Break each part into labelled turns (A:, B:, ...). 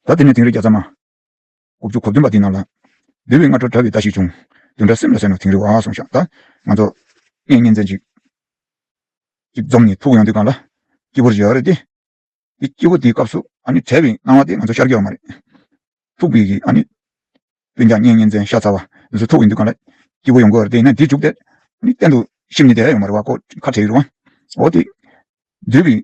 A: ད་དེ་ནས་དིང་རི་བརྒྱ་རྩ་མ། དགུ་བཅུ་གོ་བདུན་པ་དེའི་ནང་ལ། འདུལ་བའི་སྔ་དྲོར་གྲྭ་བའི་བརྡ་ཞིག་བྱུང། དུད་འདྲ་སེམས་ལ་གསན་ནོ་དིང་རི་བ་སོང་ཤག་ད། ང་ཚོ། ངས་གཉེན་ཚན་ཅིག། ཅིག་འཛོམས་ནས་ཐུག་ཡོང་དུས་གང་ལ། སྐྱིད་པོར་བཞག་ཡོད་རེད་དེ། དེ་སྐྱིད་པོ་དེའི་སྐབས་སུ། ཨ་ནི་བྲལ་བའི་སྣང་བ་དེ་ང་ཚོ་ཤར་གྱི་ཡོད་མ་རེད། ཐུག་པའི་གི་ཨ་ནི། དཔོན་འཇགས་གཉེན་གཉེན་ཚན་ཤ་ཚ་བ། དེ་ཚོ་ཐུག་ཡོང་དུས་གང་ལ། སྐྱིད་པོ་ཡོང་གི་ཡོད་རེད་དེ་ཡིན་ན་དེ་བཅུག་སྟེ། ཨ་ནི་གཏན་དུ། ཤིབ་ནི་བསྡད་ཡོད་མ་རེད་བ་ཀོ། ཁ་བྲལ་ཡོད་རུང། འོ་དེ། འདུལ་བའི།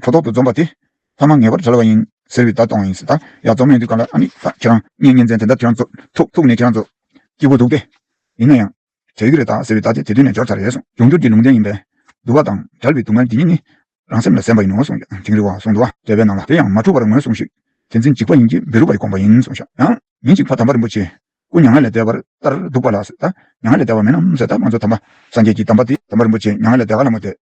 A: ཁྲོ་ཐོག་ཏུ་འཛོམས་པ་དེ། ལྷག་མ་ངེས་པར་བྲལ་བ་ཡིན། ཟེར་བའི་བརྡ་གཏོང་བ་ཡིན། ད་ཡག་རྫོགས་མེད་དུས་ག་ལ་ཨ་ནི་ད་ཁྱེད་རང། བརྙན་བརྙན་ཚན་དེ་འདྲ་ཁྱེད་རང་ཚོ། ཐུག་ཐུག་ནས་ཁྱེད་རང་ཚོ། སྐྱིད་པོ་འདུག་སྟེ། ཡིན་ན་ཡང། བྲལ་གི་རེད་ད་ཟེར་བའི་བརྡ་དེ་དེ་དུས་ནས་འབྱོར་ཚར་རེད་གསུངས། འབྱུང་འགྱུར་གྱི་ལུང་བསྟན་ཡིན་པས། འདུ་བ་དང་བྲལ་བའི་སྡུག་བསྔལ་འདི་ཉིད་ནི། རང་སེམས་ལ་གཟན་པ་ཡིན་ནོ་གསུངས། དིང་རི་བ་གསུང་འདུ་བ། བྲལ་བའི་ནང་ལ་དེ་ཡང་མ་འཁྲུལ་བར་ངོས་གསུངས་ཤིག། དེ་འཛིན་འཇིགས་པ་ཡིན་གྱི་བེ་རུ་བའི་དགོངས་པ་ཡིན་གསུངས། ཞག་གཡང། ཉིན་ཅིག་ཕ་དམ་པ་རིན་པོ་ཆེ། སྐུ་མྱ་ངན་ལས་འདས་པར་ལྟར་འདུག་པ་ལ། ད་མྱ་ངན་ལས་འདས་བ་མིན་ནམ་ཟེར། ད་ང་ཚོ་དམ་པ། སངས་རྒྱས་ཀྱི་དམ་པ་དེ། དམ་པ་རིན་པོ་ཆེ་མྱ་ངན་ལས་འདས་ག་ལ་མོ་དེ།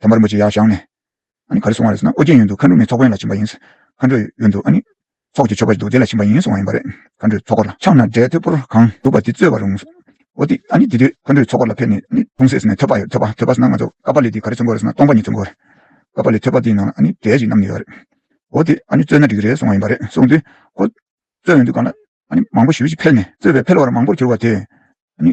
A: ད་མར་མོ་ཅི་ཡག་བཞག་ནས། ཨ་ནི་ག་རེ་གསུང་བ་རེད་ཟེར་ན་ཨོ་རྒྱན་ཡོད་འདུག་མཁའ་འགྲོ་མའི་ཚོགས་དཔོན་ལ་ཕྱིན་པ་ཡིན། མཁའ་འགྲོ་ཡོད་འདུག་ཨ་ནི། ཚོགས་ཀྱི་ཆོ་ག་ཞིག་འདུག་དེ་ལ་ཕྱིན་པ་ཡིན་གསུང་བ་ཡིན་པ་རེད། མཁའ་འགྲོའི་ཚོགས་འཁོར་ལ་ཕྱག་ན་སྒྲའི་ཐོད་ཕུར་གང་འདུག་པ་དེ་སྩོལ་བར་རུང། ཨོ་དེ་ཨ་ནི་དེ་དུས་མཁའ་འགྲོའི་ཚོགས་འཁོར་ལ་ཕེབས་ནས་ནི་ལྷུང་བཟེད་ཟེར་ནས་ཐོད་པ་ཡོད་ཐོད་པ་ཐོད་པ་ཟེར་ན་ང་ཚོ་ཀ་པཱ་ལི་དེ་ག་རེ་ཚུན་དགོས་རེད་ཟེར་ན་སྟོང་པ་གཉིས་ཚུན་དགོས་རེད། ཀ་པཱ་ལི་ཐོད་པ་དེའི་ནང་ལ་ཨ་ནི་སྒྲའི་གཞི་རྣམས་ནི་ཡོད་རེད། ཨོ་དེ་ཨ་ནི་སྩོལ་ན་འགྲིག་གི་རེད་གསུང་བ་ཡིན་པ་རེད་གསུང་དུས། ཁོ། སྩོལ་འོས་འདུག་གང་ལ། ཨ་ནི་མང་པོ་ཞུས་ཤིག་ཕེལ་ནས་སྩོལ་བས་ཕེལ་བར་མང་པོར་གྱུར་བ་དེས། ཨ་ནི།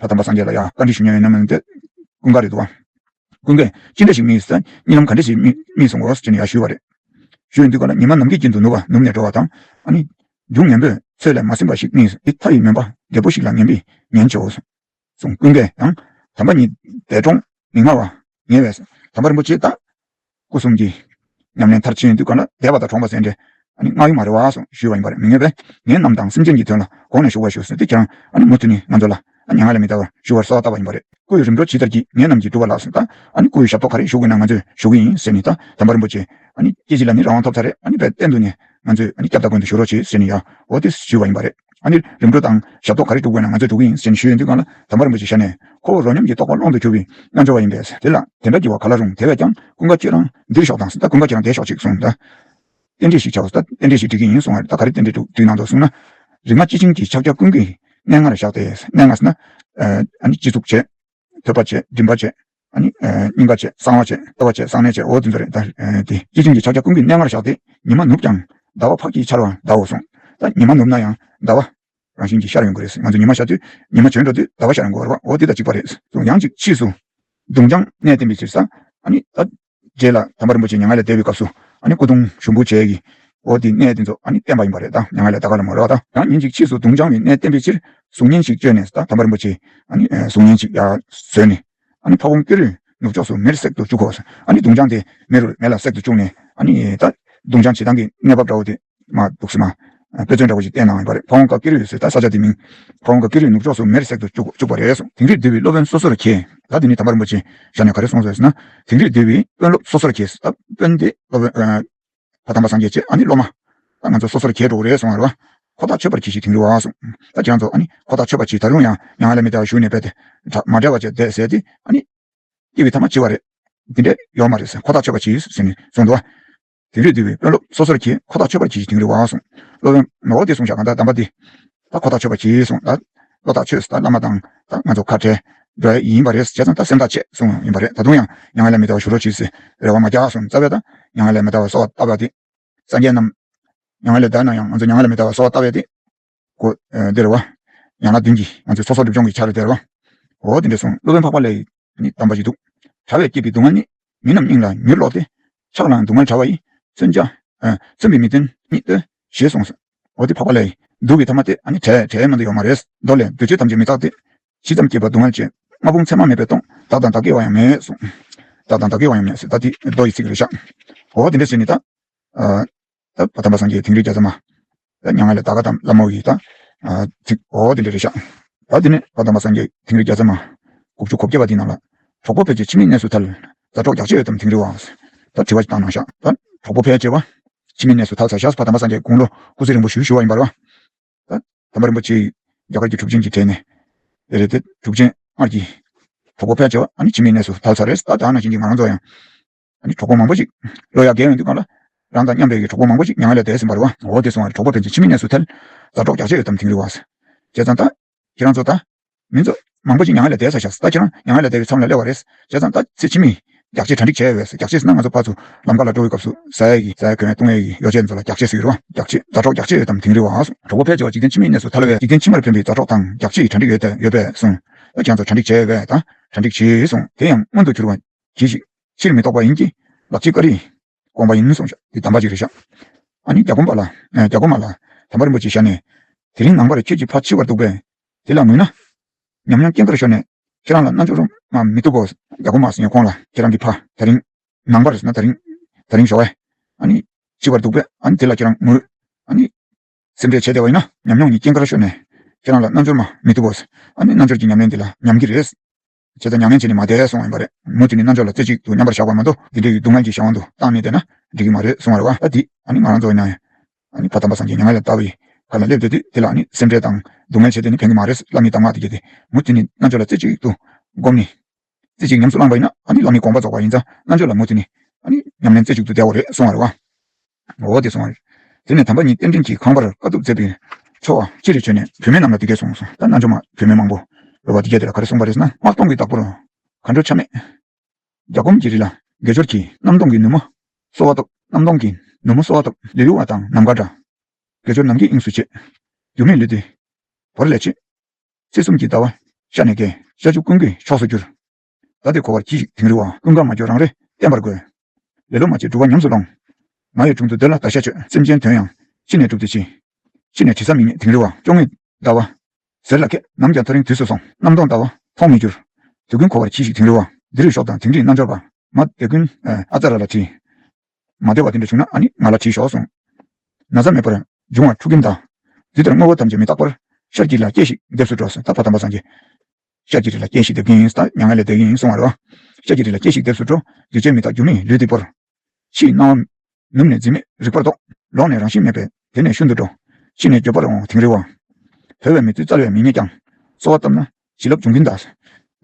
A: ལྷ་དམ་པ་སངས་རྒྱས་ལ་ཡང་བཀའ་དྲིན་ཞུ་མྱོང་ཡོད་ན་མི་འདོད། ཀུན་དགའ་རེད་འདུག་བ། ཀུན་དགའ། ཅི་འདྲ་ཞིག་སྨྲས་ཡོད་ས། རྨི་ལམ་ག་འདྲ་ཞིག་རྨིས་སོང་ངོ་ཞེས་ནས་ཡར་ཞུས་བ་རེད། ཞུ་ཡི་འདུག་ག་ལ་ཉི་མ་ནམ་མཁའི་དཀྱིལ་དུ་ནུབ་བ་ནུབ་ནས་འགྲོ་བ་དང། ཨ་ནི། སྒྱུག་ངན་པོས་ཚོད་ལས་མ་ཟིན་པ་ཞིག་རྨིས་ཏེ་ཕ་ཡི་མོན་པ་རྒད་པོ་ཞིག་ལ་ངན་པས་ངན་བྱེད་འོ། གསུངས། ཀུན་དགའ། ཡང། དམ་པ་ཉིད་འདས་གྲོངས་མི་སྔ་བ། ཉེ་བས། དམ་པ་རིན་པོ་ཆེ་བདག། སྐུ་གསུམ་གྱི། ཉམས་ལེན་མཐར་ཕྱིན་དུས་འགོད་ན་དད་པ་དང་གྲོངས་པ་ཟད་འདྲེ། སྔགས་ཡུལ་མ་རེ་བ་སོགས་ཞུས་བ་ཡིན་པར་མི་ངེས་པས། ངེད་རྣམས་དང་སེམས་ཅན་གྱི་དོན་ལ་གོང་ནས་ཞུ་བར་ཞུ་གསོལ་ཏེ་ཁྱེད་རང། མུ་མཐུད་ནས་ང་ཚོ་ལ། སྙན་ངག་ལས་མི་དར་བར་ཞུ་བར་གསོལ་བ་བཏབ་པ་ཡིན་པ་རེད། སྐུ་ཡི་རིམ་གྲོ་ཇི་ལྟར་བགྱིས་ངེད་རྣམས་ཀྱིས་བསྒྲུབ་པ་ལགས་སོ། སྐུ་ཡི་ཞབས་ཏོག་ག་རེ་ཞུ་དགོས་ན་ང་ཚོས་ཞུ་གི་ཡིན་ཟེར་ནས། དམ་པ་རིན་པོ་ཆེ། སྐྱེ་འཆི་ལ་ནི་རང་དབང་ཐོབ་ཚར་རེད། བས་བསྟན་འདུག་ནས། ང་ཚོས་ཨ་ནི་སྐྱབས་དགའ་དགོན་དུ་ཞུ་རོགས་བྱོས་ཟེར་ནས་ཡ་ཨོ་ཏི་ཞུས་པ་ཡིན་པ་རེད། ཨ་ནིར་རིམ་གྲོ་དང་ཞབས་ཏོག་ག་རེ་སྒྲུབ་དགོས་ན་ང་ཚོས་སྒྲུབ་གི་ཡིན་ཟེར་ནས་ཞུས་ཡོད་དུས་གང་ལ་དམ་པ་རིན་པོ་ཆེ་ཞལ་ནས་ཁོ་བོ་རོ་སྙོམས་ཀྱི་རྟོགས་པ་ཀློང་དུ་གྱུར་པའི་རྣལ་འབྱོར་བ་ཡིན་པས་དེ་ལ་དེ་འདྲ་བགྱི་བ་ག་ལ་རུང་དེ་བས་ཀྱང་ཀུན་དགའ་ཁྱེད་རང་འདིར་ཞོག་དང་ད་ཀུན་དགའ་ཁྱེད་རང་དེ་ཞོག་ཅིག་གསུངས། རྟེན་འབྲེལ་ཞིག་བྱའོ་ད་རྟེན་འབྲེལ་ཞིག་སྒྲིག་གི་ཡིན་གསུངས་བར་ད་ག་རེ་རྟེན་འབྲེལ་སྒྲུག་དུས་གནང་འདུག་གསུངས་ན། རིག་མ་ཅི་བྱིན་གྱིས་ཕྱག་རྒྱ་ཀུན་གྱི་གནས་ལྔ་ལ་བཞག་སྟེ་གནས་ལྔ་ཟེར་ན། ཨ་ནི་སྤྱི་གཙུག་བྱས། ཐོས་པ་བཅས་མགྲིན་པ་བཅས་སྙིང་ག་བཅས་གསང་བ་བཅས་ལྟོ་བ་བཅས་གསང་གནས་བཅས་འོ་འདི་ཚོ་རེད་དེ། སྐྱེས་ཆེན་གྱི་ཕྱག་རྒྱ་ཀུན་གྱི་གནས་ལྔར་བཞག་སྟེ་ཉི་མ་ནུབ་ཀྱང་ཟླ་བ་ཕག་གིས་འཆར་བར་གདའོ་གསུངས། ད་ཉི་མ་ནུབ་ན་ཡང་ཟླ་བ། རང་བཞིན་གྱིས་ཤར་ཡོང་གི་རེད་ཟེར་ང་ཚོ་ཉི་མ་ཤར་དུས་ཉི་མ་བྱོན་འགྲོ་དུས་ཟླ་བ་ཤར་ཡོང་གི་འོར་བ་འོ་འདི་དང་གཅིག་པ་རེད་གསུངས་ཡང་ཅིག་ཕྱིས་སུ། གདུང་རྐྱང་གནས་བརྟན་པའི་ཕྱིར་ས། ད། རྗེས་ལ་དམ་པ་རིན་པོ་ཆེ་མྱ་ངན་ལས་འདས་པའི་སྐབས་སུ་སྐུ་གདུང་ཞུགས་འབུལ་བྱས་ཀྱི། འོ་དེའི་གནས་དེ་ཚོ་བསྟན་པ་ཡིན་པ་རེད་ད་མྱ་ངན་ལས་ད་ག་ལ་མ་རོལ་བ་ད། ཡང་ཉིན་ཅིག་ཕྱིས་སུ་གདུང་བྱང་བའི་གནས་བསྟན་པའི་ཕྱིར་གཟུགས་བརྙན་ཞིག་བཅོས་ནས་ད་དམ་པ་རིན་པོ་ཆེའི་གཟུགས་བརྙན་ཅིག་བཟོས་ནས། ཕ་བོང་སྐྱུ་རུས་ནུབ་ཕྱོགས་སུ་མེར་བསྲེག་ཏུ་བཅུག་གོ། གདུང་བྱང་དེ་མེ་རུར་མེ་ལ་བསྲེག་ཏུ་བཅུག་ནས། ད་གདུང་བྱང་བྱེད་སྟངས་ཀྱི་གནས་བབ་འདྲ་བོ་དེ། མ་འདུག་སྲིད་ན། དཔེ་མཚོན་འདྲ་བོ་ཞིག་བསྟན་གནང་ཡོད་པ་རེད་ཕ་བོང་དཀར་ཀེ་རི་ཡོད་ཚེ་ད་ས་ཆ་དེ་མིན། ཕ་བོང་དཀར་ཀེ་རི་ནུབ་ཕྱོགས་སུ་མེར་བསྲེགས་དུ་བཅུག་པ་རེད། དིང་རིར་སྡོད་པའི་སློབ་དཔོན་སོ་སོར་གྱེས། ད་དེ་ནི་དམ་པ་རིན་པོ་ཆེ་ཞབས་ནས་ག་རེ་གསུངས་སོང་ཟེར་ན། དིང་རིར་སྡོད་པའི་དཔོན་སློབ་སོ་སོར་གྱེས། ད་དཔོན་དེ་སློབ་དཔོན། ད་དམ་པ་སངས་རྒྱས་ཆེ་ཨ་ནི་སློབ་མ། ད་ང་ཚོ་སོ་སོར་གྱེས་འགྲོ་གི་རེད་གསུངས་ཡོད་རེད། ཁོ་ཐག་ཆོད་པར་གྱིས་ཤིག་དིང་རི་བ་གསུངས། ད་ཁྱེད་རང་ཚོ་ཨ་ནི་ཁོ་ཐག་ཆོད་པར་གྱིས་ད་རུང་ཡང་ཡང་ཨ་ལས་མི་བདེ་བ་ཞུ་ནས་བས་ཏེ། མ་བྲལ་བ་བཅས་བསྡད་ཟེར་ཏེ་ཨ་ནི། སྐྱེ་བའི་ཐ་མ་འཆི་བ་རེད། འདི་འདྲས་ཡོད་མ་རེད་ཟེར་ཁོ་ཐག་ཆོད་པར་གྱིས་ཟེར་ནས་གསུངས་འདུག། དིང་རི་འདུལ་བའི་དཔོན་སློབ་སོ་སོར་གྱིས་ཁོ་ཐག་ཆོད་པར་གྱིས་དིང་རི་བ་གསུངས། སློབ་དཔོན་ནོར་བ་འདིས་གསུངས་བྱ་གང་དག་གདམས་པ་འདི། ད་ཁོ་ཐག་ཆོད་པར་གྱིས་གསུངས་ད། བློ་ཐག་ཆོད་ད་བླ་མ་དང་ད་ང་ཚོ་ཁ་བྲལ། འགྲོ་ཡ་ཡིན་པ་རེད་བྱས་ཙང་ད་སེམས་ཐག་བཅད་གསུངས་ཡོང་ཡིན་པ་རེད་ད་དུང་ཡང་མྱ་ངན་ལས་མི་ཐར་བ་ཞུ་རོགས་གྱིས་ཟེར་རེ་བ་མ་རྒྱག་གསུངས་རྩ་བའི་ད་མྱ་ངན་ལས་མི་ཐར་བ་གསོ་བ་ལྟ་བ་འདི། སངས་རྒྱས་རྣམས། མྱ་ངན་ལས་འདའ་ན་ཡང་ང་ཚོ་མྱ་ངན་ལས་མི་ཐར་བ་གསོ་བ་ལྟ་བའི་འདི། གོ། དེ་རེད་བ། ཡང་ན་བདུན་གྱིས་ང་ཚོའི་ཚོགས་གསོག་སྒྲིབ་སྦྱོང་གི་ཆ་རེད་དེ་རེད་བ། འོ་དེ་འདྲས་སོང་སློབ་དཔོན་འཕགས་པ་ལས་ཡིས་ནི་གདམས་པ་ཞིག་འདུག། དྲ་བས་བསྐྱེད་པའི་སྡུག་བསྔལ་ནི། མི་རྣམས་སྙིང་ལ་མྱུར་ལོག་སྟེ། ཆགས་ལའང་སྡུག་བསྔལ་དྲ་བ་ཡིས། མཚོན་བྱ། མཚོན་པའི་མི་དོན་ཉིད་ལྟོས། ཞེས་གསུངས་སོ། འོ་དེ་འཕགས་པ་ལས་ཡིས། སྡུག་བའི་ཐ་མ་སྟེ། ནི་དྲའི་དྲའི་སྔོན་དུ་ཡོད་མ་རེད། མདོ་ལས། འདུ་བྱེད་ཐམས་ཅད་མི་རྟག་སྟེ། ཞི་ཙམ་བསྐྱེད་པ་སྡུག་བསྔལ་ཅན། ལྔ་ཕུང་མཚན་མ་མེད་པས་སྟོང། བདག་དང་བདག་གི་བ་ཡང་མེད་གསུངས། བདག་དང་བདག་གི་བ་ཡང་མེད། ད་དེ། མདོ་ཡི་ཚིག་རེད་བཞག། འོ་དེ་འདྲས་བྱས་ནས་ད། ད་བ་དམ་པ་སངས་རྒྱས་དིང་རི་རྒྱ་ཚ་མ། ད་མྱ་ངན་ལས་བདག་ག་དམ་བླ་མ་བི་དང། ཚིག། འོ་འོ་འདི་འདྲ་རེད་ཤག། ད་འདི་ནས་བ་དམ་པ་སངས་རྒྱས་དིང་རི་རྒྱ་ཚ་མ། དགུ་བཅུ་གོ་བརྒྱད་པ་འདི་ནང་ལ། གྲོགས་པོ་ཕལ་ཆེར་ཕྱི་མི་གནས་སུ་ཐལ། ད་གྲོགས་རྒྱག་ཆེ་ཡོད་དམ་དིང་རི་བ། ད་དྲི་བ་ཅིག་བཏང་གནང་ཤག། ད་གྲོགས་པོ་ཕལ་ཆེ་བ། ཕྱི་མི་གནས་སུ་ཐལ་ས་ཞག་སུ་བ་དམ་པ་སངས་རྒྱས་དགུང་ལོ་སྐུ་ཚེ་རིང་པོ་བཞུགས་ཞུ་བ་ཡིན་པར་བ། ད། དམ་པ་རིན་པོ་ཆེ་ཡིས། རྒྱ་གར་གྱི་གྲུབ་ཆེན་གྱི་གྲས་ནས། རེད་རེད་དེ་གྲུབ་ཆེན་སྔར་གྱི། གྲོགས་པོ་ཕལ་ཆེ་བ་ཨ་ནི་ཕྱི་མི་གནས་སུ་ཐལ་ས་རེད་ད་དག་ན་བྱིན་གྱིས་ང་རང་ཚོ་ཡང། ཨ་ནི་གྲོགས་པོ་མང་པོ་ཞིག། ལོ་ཡག་རྒྱལ་ཡོང་དུས་སྒང་ལ། རང་དང་མཉམ་འབྲེལ་གྱི་གྲོགས་པོ་མང་པོ་ཞིག་མྱ་ངན་ལས་འདས་ཟིན་པར། འོ་དེ་སོང་བ་རེད་གྲོགས་པོ་དེ་ཚོས་ཕྱི་མི་གནས་སུ་ཐལ། ཟ་གྲོགས་རྒྱག་བྱེད་ཡོད་དམ་དིང་རི་བ། བྱས་ཙང་ལྟ། ཁྱེད་རང་ཚོ་ལྟ། མི་ཚོ། མང་པོ་ཞིག་མྱ་ངན་ལས་འདས་ས་བཞག་ལྟ་ཁྱེད་རང་མྱ་ངན་ལས་འདས་བའི་མཚམས་ལ་སླེབས་བ་རེད། བྱས་ཙང་ལྟ། ཚེ་ཕྱི་མིས། རྒྱག་བྱེད་གྲ་འགྲིག་བྱས་བས། རྒྱག་བྱེད་ཟིན་ན་ང་ཚོ་ཕར་ཚུར། ལམ་ཁ་ལ་འགྲོ་བའི་སྐབས་སུ། ཟ་ཡས་ཀྱི། ཟ་ཡས་གོན་ཡས་བཏུང་ཡས་ཀྱི་ཡོ་བྱད་ཚོ་ལ་རྒྱག་བྱེད་ཟེར་གི་རེད་བ། རྒྱག་བྱེད། ཟ་གྲོགས་རྒྱག་བྱེད་ཡོད་དམ་དིང་རི་བ། གྲོགས་པོ་ཕལ་ཆེ་བ་འཇིག་རྟེན་ཕྱི་མིའི་གནས་སུ་ཐལ་བས། འཇིག་རྟེན་ཕྱི་མར་ཕན་པའི་ཟ་གྲོགས་དང་རྒྱག་བྱེད་ཀྱི་གྲ་འགྲིག་ཡོད། ཡོད་པས་སོང། ལྟ་ཁྱེད་རང་ཚོ་གྲ་འགྲིག་བྱས་བས། ལྟ། གྲ་འགྲིག་བྱས་སོང། དེ་ཡང་མངོན་དུ་གྱུར་བ། གྱིས་ཤིག། ཕྱིར་མི་ལྡོག་པ་ཡིན་གྱིས། ལ་གཅིག་ཀ་རིས། དགོངས་པ་ཡིན་གསུངས། ཞག་དེ་དམ་པ་གཅིག་རེ་ཞག། ཨ་ནི་རྒྱ་གོང་པ་ལ། རྒྱ་གོང་མ་ལ། དམ་པ་རིན་པོ་ཆེ་ཞག་ནས། དེ་རིང་ནངས་པར་ཁྱོད་ཀྱི་ཕ་འཆི་བར་འདུག་པས། དེ་ལ་ངུས་ན། ཉམས་མྱོང་སྐྱེ་འགར་ཤོར་ནས། ཁྱེད་རང་ལ་རྣལ་འབྱོར་རུང་མ་མི་བཏུབ་བོ། རྒྱ་གོང་མ་སེང་གེ་ཁོང་ལ། ཁྱེད་རང་གི་ཕ། ད་རིང། ནངས་པར་ན་ད་རིང། ད་རིང་ཞོགས་ཨེ། ཨ་ནི། འཆི་བར་འདུག་པས་ཨ་ནི་དེ་ལ་ཁྱེད་རང་ངུས། ཨ་ནི། སེམས་ཁྲལ་བྱས་བསྡད་པ་ཡིན་ན། ཉམས་མྱོང་ནི་སྐྱེ་འགར་ཤོར་ནས། ཁྱེད་རང་ལ་རྣལ་འབྱོར་མ་མི་བཏུབ་བོ། ཨ་ནི་རྣལ་འབྱོར་གྱི་ཉམས་ལེན་དེ་ལ་ཉམས་ཀྱི་རེད། བྱས་ཙང་མྱ་ངན་བྱས་ནས་མ་བསྡད་སོང་བ་ཡིན་པ་རེད། མུ་མཐུད་ནས་རྣམ་དཔྱོད་ལ་རྩེ་གཅིག་ཏུ་མཉམ་པར་བཞག་པར་མ་གཏོགས་དེ་འདྲ་ཡི་སྡུག་བསྔལ་གྱི་ཞག་དབང་དུ་བཏང་ནས་བསྡད་ན་འགྲིག་གི་མ་རེད་གསུང་བ་རེད་བ་ཨ་དེས་ང་རང་ཚོ་མྱ་ངན་ཕ་དམ་པ་སངས་རྒྱས་མྱ་ངན་ལས་འདའ་བའི་བར་ལ་སླེབས་འདོད་དུས་དེ་ལ་ནི་སེམས་ཁྲལ་དང་སྡུག་བསྔལ་བྱེད་དེ་ནི་ཕན་གི་མ་རེད་བསླབ་མེད་གདམས་ངག་དེ་བརྒྱད་དེ་མུ་མཐུད་ནས་རྣམ་དཔྱོད་ལ་རྩེ་གཅིག་ཏུ་བསྒོམ་ནས་རྩེ་གཅིག་ཉམས་སུ་བླངས་པ་ཡིན་ན་ཨ་ནི་བླ་མའི་དགོངས་པ་རྫོགས་པ་ཡིན་ཙང་རྣམ་དཔྱོད་ལ་མུ་མཐུད་ནས་ཨ་ནི་ཉམས་ལེན་རྩེ་གཅིག་ཏུ་བསྡད་བོ་རེད་གསུང་བ་རེད་བ། འོ་དེ་སོང། ཟེར་ནས་དམ་པ་གཉིས་རྟེན་འབྲེལ་གྱི་ཁང་པར་དཀའ་ཐུབ་མཛད་པའི་ཚོ་བ་ཅི་རེད་བྱོས་ནས་བུད་མེད་རྣམས་ལ་འདི་སྐད་གསུངས་སོང་ད་རྣལ་འབྱོར་མ་བུད་མེད་མང་པོ་འགྲོ་བ་འདི་སྐད་དེ་ལ་ག་རེ་གསུངས་པ་རེད་ན་དམག་སྟོང་གི་བདག་པོར་གར་འགྲོ་ཆ་མེད། རྒྱ་སྒོམ་གྱི་རི་ལ་དགེ་སྦྱོར་གྱིས་གནམ་སྟོང་གི་ནུབ་མོ་གསོ་བ་ཐོབ་གནམ་སྟོང་གི་ནུབ་མོ་གསོ་བ་ཐོབ་ལི་རུ་བ་དང་ནམ་མཁའ་འདྲ། དགེ་སྦྱོར་ནམ་གྱི་དབྱིངས་སུ་བྱེད། འགྱུར་མེད་ལུས་འདི་བོར་ལས་ཆེ། སྲིད་གསུམ་གྱི་ཟླ་བ་ཤར་ནས་རྒས། ཤ་ཆུ་ཀུན་གྱི་ཕྱོགས་སུ་བསྒྱུར། ད་དེ་གོ་བར་གྱིས་ཤིག་དིང་རི་བ། ཀུན་དགའ་མ་སྐྱོ་རང་རེ་བསྟེན་པར་དགོས། ལེ་ལོ་མ་བྱེད་འགྲུབ་བ་ཉམས་སུ་ལོངས། ང་ཡི་དྲུང་དུ་བདེ་ལ་བདག་ཤ་ཆོད། སེམས་ཅན་དོན་ཡང་ཤི་ནས་འགྲུབ་དེ་ཅི། ཤི་ནས་དྲི་ཟ་མི་རྙེད་དིང་རི་བ། སྐྱོ་ངེས་ཟླ་བ་ཟེར་ལ་ཁད། ནམ་ཀྱང་ཐག་རིང་དུས་སུ་སོང། གནམ་སྟོང་ཟླ་བ་མཐོང་མི་འགྱུར། དེ་ཀུན་གོ་བར་གྱིས་ཤིག་དིང་རི་བ། འདི་རིགས་ཤོག་དང་དིང་རིའི་རྣལ་འབྱོར་པ། མ་བདེ་ཀུན་ཨ་ཙཱ་ར་ལ་དྲིས། མ་བདེ་བ་དེ་འདྲ་བྱུང་ན་ཨ་ནི་ང་ལ་དྲིས་ཤོག་གསུངས། ན་བཟའ་མེད་པར་འབྱུང་བ་ཕྲུ་གུའི་མདའ། འདི་ལྟར་དངོས་པོ་ཐམས་ཅད་མི་རྟག་པར། ཤར་གྱི་ལ་སྐྱེས་ཤིག་འདེབས་སུ་འགྲོ། ཟད་པ་དམ་པ་སངས་རྒྱས། ཤ་གྱི་རི་ལ་སྐྱེས་ཤིག་འདེབས་ཀྱིན་ཡིན་ཟླ་ཉག་ལ་བསྡད་ཀྱིན་ཡིན་སོང་བ་རོ། ཤ་གྱི་རི་ལ་སྐྱེས་ཤིག་འདེབས་སུ་འགྲོ། འདུས་བྱས་མི་རྟག་འགྱུར་མེད་ལུས་འདི་བོར། ཕྱིའི་སྣང་བ། ནུབ་ནས་འཛིན་མེད་རིག་པར་རྟོགས། ལོག་ནས་རང་བཞིན་མེད་པས་དེ་ནས་ཤུན་ཏུ་འགྲོ། ཕྱི་ནས་འགྱོད་པར་འོང་དིང་རི་བ། བོས་བའི་མི་ཚུལ་རྩལ་བས་མི་རྙེད་ཀྱང། གསོལ་བ་བཏབ་ན་བྱིན་རླབས་འབྱུང་གིན་གདའ། ལས་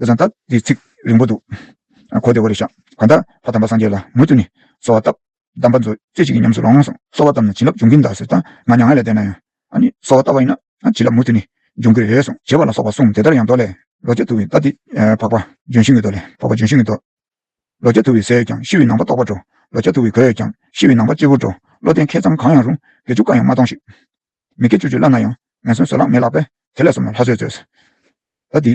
A: བཟང་རྟགས་འདིའི་ཚིག་རིང་པོ་འདུག། གོ་བདེ་བོ་རེ་བཞག་ག་འདྲ། ཕ་དམ་པ་སངས་རྒྱས་ལ་མུ་མཐུད་ནས་གསོལ་བ་བཏབ། གདམས་པ་མཛོད། རྩེ་གཅིག་གིས་ཉམས་སུ་ལོངས་སོང། གསོལ་བ་བཏབ་ནས་བྱིན་རླབས་འབྱུང་གིན་གདའ་ཟེར་ད། ང་མྱ་ངན་ལས་འདས་ན་ཡང། ཨཱ་ནི། གསོལ་བ་བཏབ་པ་ཡིན་ན། བྱིན་རླབས་མུ་མཐུད་ནི། འབྱུང་གིན་རེད་སོང། བྱེད་པ་ལ་སོགས་པ་གསུངས་དེ་ལྟར་ཡང་མདོ་ལས། ལོ་བརྒྱ་དུ་བའི་རྟ་འདི། འཕགས་པ། ལྗོན་ཤིང་གི་མདོ་ལས། འཕགས་པ་ལྗོན་ཤིང་གི་མདོ། ལོ་བརྒྱ་དུ་བའི་ཟས་ཡོད་ཀྱང་ཤི་བའི་ནང་པ་ལྟོགས་པར་འགྲོ། ལོ་བརྒྱ་དུ་བའི་གོས་ཡོད་ཀྱང། ཤི་བའི་ནང་པ་གཅེར་བུར་འགྲོ། བློ་ལྡན་མཁས་ཙམ་གང་ཡང་རུང། དགེ་བཅུ་ཀ་ཡང་མ་གཏོང་ཞིག། མི་དགེ་བཅུ་བཅུ་བླ་ན་ཡང། ངན་སོན་བཟོད་གླགས་མེད་ལགས་པས། དེ་ལས་སོམས་ན་ལྷ་བཟོས་མཛོད། རྟ་འདི།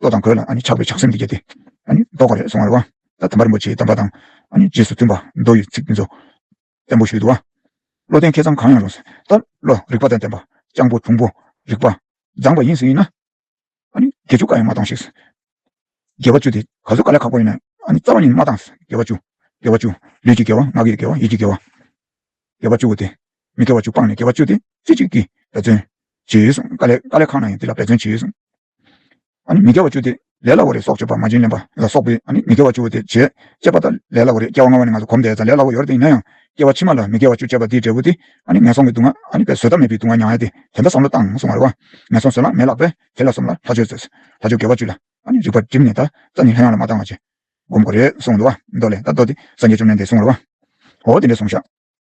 A: བློ་དང་གོས་ལ་ཆགས་པའི་ཆགས་སེམས་འདི་བརྒྱད་དེ། ལྡོག་ག་རེ་སོང་བར་བ། ད་དམ་པ་རིན་པོ་ཆེའི་གདམས་པ་དང། རྗེས་སུ་མཐུན་པ་མདོ་ཡི་ཚིག་འདི་ཚོ། བཙན་པོ་ཞུས་དུ་བ། བློ་ལྡན་མཁས་གཙང་གང་ཡང་རུང། ད་བློ་རིག་པ་དང་ལྡན་པ། སྤྱང་པོ་དུང་པོ་རིག་པ། མཛངས་པ་ཡིན་ཟིན་ཡིན་ན། དགེ་བཅུ་ཀ་ཡང་མ་བཏང་ཞིག། དགེ་བ་བཅུ་དེ་ག་ཚོད་ཀ་ལས་ཁག་པོ་ཡིན་ན། རྩ་བ་ཉིད་མ་བཏང། དགེ་བ་བཅུ། དགེ་བ་བཅུ། ལུས་ཀྱི་དགེ་བ་ངག་གི་དགེ་བ་ཡིད་ཀྱི་དགེ་བ། དགེ་བ་བཅུ་བོ་དེ། མི་དགེ་བ་བཅུ་སྤངས་ནས་དགེ་བ་བཅུ་དེ་རྩེ་གཅིག་གིས་འབད་བརྩོན། བྱེད་ཡོད་གསུངས། ཀ་ལས་ཁག་ན་ཡང་འདི་ལ་འབད་བརྩོན་བྱེད་ཡོད་གསུངས། མི་དགེ་བ་བཅུ་སྟེ། ལས་སླ་བ་རེ་སྲོག་གཅོད་པ་མ་བྱིན་ལེན་པ་ལ་སོགས་པས་མི་དགེ་བ་བཅུ་དེ་བྱེད། ཅེས་པ་དང་ལས་སླ་བ་རེ་སྐྱེ་བ་སྔ་བ་ནས་ང་ཚོ་གོམས་བསྡད་ད་ལས་སླ་བོ་ཡོར་དེ་ཡིན་ན་ཡང། སྐྱེ་བ་ཕྱི་མ་ལ་མི་དགེ་བ་བཅུ་སྤྱད་པ་དེའི་འབྲས་བུ་དེ། ངན་སོང་གི་སྡུག་བསྔལ་བས་བཟོད་ཐབས་མེད་པའི་སྡུག་བསྔལ་མྱང་ཡ་སྟེ། དེ་འདྲ་བསམ་བློ་བཏང་སོང་བ་རེད་བ། ངན་སོང་བཟོད་བླག་མེད་ལགས་པས་དེ་ལ་སོམས་ལ་ལྷ་ཆོས་མཛོད། ལྷ་ཆོས་དགེ་བ་བཅུ་ལ། རིགས་པ་བསྒྲིམས་ནས་ད་ཙ་ནི་ལྷ་ཡང་ལ་མ་བཏང་བ་བྱེད། སྒོམ་དགོས་རེད་གསུངས་འདུག་བ། མདོ་ལས་ད་མདོ་དེ་སངས་རྒྱས་བཅོམ་ལྡན་འདས་གསུངས་རེད་བ། འོ་དེ་འདྲས་གསུངས་ཤག།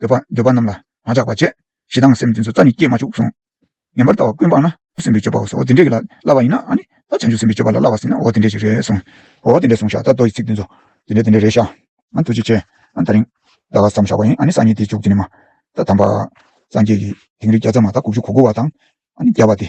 A: འདོད་པ་འདོད་པ་རྣམས་ལ་མ་ཆགས་པར་བྱས། ཞེ་སྡང་སེམས་ཅན་སོ་རྩ་ནི་སྐྱེས་མ་བཅུག་གསུངས། ངན་པར་ལྟ་བ་ཀུན་སྤངས་ན་འོ་སེམས་པའི་སྤྱོད་པའོ་སོ་འོ་དེ་འདྲས་ཀྱི་ལ་བསླབ་པ་ཡིན་ན་ཨཱ་ནི་ད་བྱང་ཆུབ་སེམས་པའི་སྤྱོད་པ་ལ་བསླབ་བ་ཟིན་ན་འོ་དེ་འདྲས་ཞིག་རེད་གསུངས། འོ་དེ་འདྲས་གསུངས་ཤག་ད་རྡོ་ཡི་ཚིག་འདི་རྫོགས། དེ་འདྲས་དེ་འདྲས་རེད་ཤག། ཨཱ་ཐུགས་རྗེ་ཆེ། ཨཱ་ད་རིང། ཟླ་བ་བསམ་བཞག་པ་ཡིན་ཨཱ་ནི་སང་ཉིན་དེ་བཅུག་དེ་ནས་མ། ད་དམ་པ། སངས་རྒྱས་ཀྱི་དིང་རི་བརྒྱ་རྩ་མ་དག་དགུ་བཅུ་གོ་དགུ་བ་དང། ཨཱ་ནི་བརྒྱ་པ་དེ།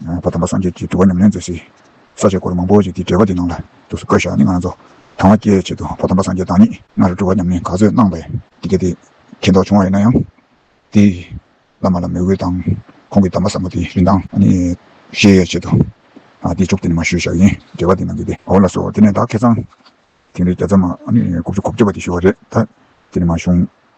A: མགོན་པོ་དམ་པ་སངས་རྒྱས་ཀྱིས་དུལ་བ་ཉམས་ལེན་མཛད་སའི་ས་བཅད་སྐོར་མང་པོ་ཞིག་གི་འགྲེལ་པ་འདི་ནང་ལ་ཐུགས་སུ་བཀོད་བཞག་ནི་ང་རང་ཚོ་དང་བ་སྐྱེལ་ཆེད་དུ་པོ་དམ་པ་སངས་རྒྱས་དང་ཉིད་ལྔ་རུ་གྲུབ་བ་ཉམས་ལེན་ག་ཚོད་གནང་བས། དེ་སྐད་དེ་མཁྱེན་རྟོགས་བྱུང་བ་ཡིན་ན་ཡང། དེས་བླ་མ་ལ་མོས་གུས་དང་ཁོང་གི་གདམས་པ་ཟབ་མོ་དེའི་རིན་ཐང། ཤེས་ཡོད་ཆེད་དུ། དེའི་མཇུག་དེ་ནས་མ་ཞུས་བཞག་ཡིན་འགྲེལ་བ་འདི་ནང་གི་བདེ་བ་ལ་སོགས་དེ་ནས་བདག་ཁེ་ཚང། དེང་རེས་བརྒྱ་རྩ་མ། དགུ་བཅུ་གོ་བརྒྱད་པ་དེ་ཞུ་བ་རེད་ད། དེ་ནས་མ་བྱུང།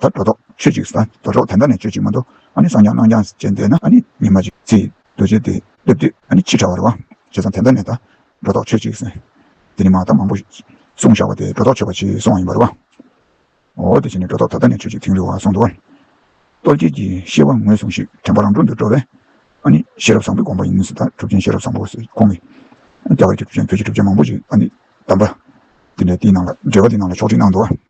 A: ད་སྒྲོ་འདོགས་ཆོད་ཅིག་ཟ། སྒྲོ་འདོགས་དེ་འདྲ་ནས་ཆོད་ཅིག་མ་འདུག། ཨ་ནི་སང་རྐྱང་གནངས་རྐྱང་བྱས་འདས་ན་ཨ་ནི་ཉི་མ་ཅིག་ཚེ་རྡོ་རྗེ་དེ་སླེབས་དུས་ཨ་ནི་ཕྱི་དྲ་བར་བ། བྱས་ཙང་དེ་འདྲ་ནས་ད་སྒྲོ་འདོགས་ཆོད་ཅིག་ཟེར། དེ་ནི་མ་དག་མང་པོ་གསུངས་བཞག་པ་དེ་སྒྲོ་འདོགས་ཆོད་པ་ཆེ་སོང་བ་ཡིན་པར་བ། འོ་དེ་བྱས་ནས་སྒྲོ་འདོགས་ད་ལྟ་ནས་ཆོད་ཅིག་ཐིང་རི་བ་སོང་འདུག། ཏོལ་སྐྱེས་ཀྱི་ཤེས་པ་ངོས་བཟུང་ཞིག་དྲན་པ་རང་གྲོལ་དུ་འགྲོ་བས། ཨ་ནི་ཤེས་རབ་བཟང་པོའི་དགོངས་པ་ཡིན་ཟེར་ད་གྲུབ་ཆེན་ཤེས་རབ་བཟང་པོ་ཟེར་ཁོང་གིས། རྒྱ་གར་གྱི་གྲུབ་ཆེན་བོད་ཀྱི་གྲུབ་ཆེན་མང་པོ་ཞིག་ཨ་ནི་བདམས་པ། དེ་འདྲས་དེའི་ནང་ལ་འགྲེལ་བ་དེའི་ནང་ལ་ཕྱོགས་བསྒྲིགས་གནང་འདུག།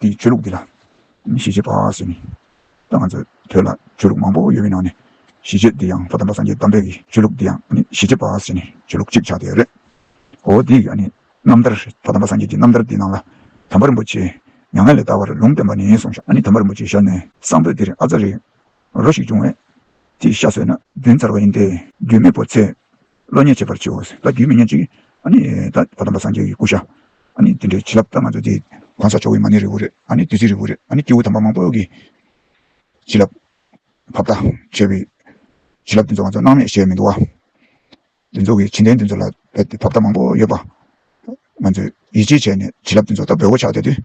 A: དེའི་ཆོས་ལུགས་འདི་ལ་གཞིས་བྱེས་པ་ཟེར་ནས་ད་ང་ཚོའི་བོད་ལ་ཆོས་ལུགས་མང་པོ་ཡོད་པའི་ནང་ནས་གཞིས་བྱེས་འདི་ཡང་ལྷོ་དམ་པ་སངས་རྒྱས་དམ་པའི་གི་ཆོས་ལུགས་འདི་ཡང་གཞིས་བྱེས་པ་ཟེར་ནས་ཆོས་ལུགས་གཅིག་ཆགས་བསྡད་ཡོད་རེད། འོ་དེའི་རྣམ་ཐར་རེད་ལྷོ་དམ་པ་སངས་རྒྱས་ཀྱི་རྣམ་ཐར་དེའི་ནང་ལ་དམ་པ་རིན་པོ་ཆེས་མྱ་ངན་ལས་འདའ་བར་ལུང་བསྟན་པ་ནས་བཟུང་ཤ་ནི་དམ་པ་རིན་པོ་ཆེའི་ཤ་ནི་གསང་ཕོད་དེར་ཨ་ཙཱ་རི་རོ་ཞིག་བྱུང་བས་དེའི་ཤ་ཟོས་ན་བདུན་ཚར་བ་ཡིན་ཏེ་རྒྱུས་མེད་པོ་ཚེ་བློ་ཉེས་བྱེད་པར་བྱའོ། ད་རྒྱུས་མི་སྙན་ཅིག། ད་ཕོ་དམ་པ་སངས་རྒྱས་ཀྱི་སྐུ་ཤ། དེ་འདྲའི་བྱིན་རླབས་ད་ང་ཚོ་འདི། གང་ཟག་ཆོ་བོའི་མ་ནི་རི་བོ་རེད། བདུད་རྩིའི་རི་བོ་རེད། སྐྱེ་བོ་དམ་པ་མང་པོ་གི། བྱིན་རླབས། བབ་ད། བྱས་པའི། བྱིན་རླབས་འདི་ཚོ་ང་ཚོ་སྣང་མེད་ཞེས་མི་འདུག་བ། འདི་ཚོ་གི་བྱིན་ལྡན་འདི་ཚོ་ལ་བས་ཏེ་བབ་ད་མང་པོ་ཡོད་པ། ང་ཚོས་ཡིད་ཆེས་བྱས་ནས་བྱིན་རླབས་འདི་ཚོ་ད་འབོད་བོ་ཆགས་བསྡད་དུས།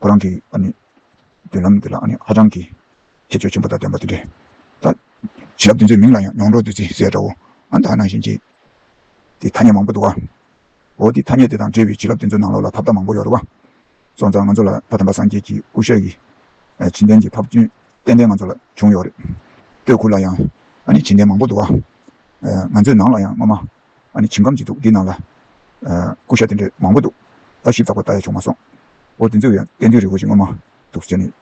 A: ཁོ་རང་གི་མདུན་ལམ་འདི་ལ་ཧ་ཅང་གི་ཁྱད་ཆོས་ཆེན་པོ་དང་ལྡན་པ་དེ་འདྲའི་ཐབས། བྱིན་རླབས་འདི་ཚོའི་མིང་ལ་ཡང་མྱོང་གྲོགས་བདུད་རྩི་ཟེར་འདྲ་བོ། ཨ་མདའ་ནང་བཞིན་གྱི་དེ་ཐ་སྙད་མང་པོ་འདུག་ཨ། འོ་དེ་ཐ་སྙད་དེ་དང་འབྲེལ་བའི་བྱིན་རླབས་དེ་ཚོའི་ནང་ལོགས་ལ་ཐབས་ལྟ་མང་པོ་ཡོད་རེད་བ། སོ་ཙང་ང་ཚོ་ལ་ད་དམ་པ་སངས་རྒྱས་ཀྱི་སྐུ་ཞབས་ཀྱི་བྱིན་ལྡན་གྱི་ཐབས་རྒྱུན་ཏན་ཏན་ང་ཚོ་ལ་བྱུང་ཡོད་རེད། སྟོད་ཁུལ་ལ་ཡང་ཨ་ནི་བྱིན་ལྡན་མང་པོ་འདུག་ཨ། ང་ཚོའི་ནང་ལ་ཡང་སྔོན་མ་ཨ་ནི་ཁྱིམ་ཁམས་ཅིག་འདུག་འདི་ནང་ལ། སྐུ་ཞབས་དེ་འདྲས་མང་པོ་འདུག། ལྟ་ཞིབ་ཚགས་པར་བལྟ་ཡ་བྱུང་མ་སོང། འོ་དེ་ཚོའི་ཡང་བསྟན་དོན་རི་བོ་ཞིག་ངོ་མ་འདུག་ཟེར་ནས།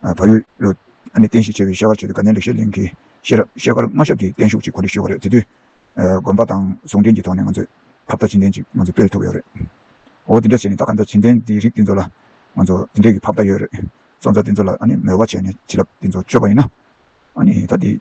A: བ་ཡོད་ལོ། ཨ་ནི་བསྟན་བཤིག་བྱས་པའི་ཤེལ་དཀར་ཆོས་ཀྱི་དགའ་ལྡན་ལེགས་བཤད་གླིང་གི་ཤེས་རབ་ཤེལ་དཀར་མངའ་ཞབས་ཀྱི་བརྟན་བཞུགས་ཀྱི་གོ་ལའི་ཤུལ་བ་རེད་དེ་དུས། དགོན་པ་དང་ཟུང་འབྲེལ་གྱི་ཐོག་ནས་ང་ཚོས་ཁ་བརྡ་བྱིན་ལྡན་ཅིག་ང་ཚོས་སྤེལ་ཐུབ་ཡོད་རེད། འོ་དེ་འདྲ་བྱས་ནས་ད་ག་འདྲ་བྱིན་ལྡན་འདིའི་རིགས་དེ་ཚོ་ལ་ང་ཚོ་དེ་འདྲས་ཀྱི་ཁ་བརྡ་ཡོད་རེད། སོང་ཙང་དེ་ཚོ་ལ་ཨ་ནི་མོལ་བ་བྱས་ནས་བྱིན་རླབས་དེ་ཚོ་སྤྱོད་པ་ཡིན་ན། ཨ་ནི་ད་དེ།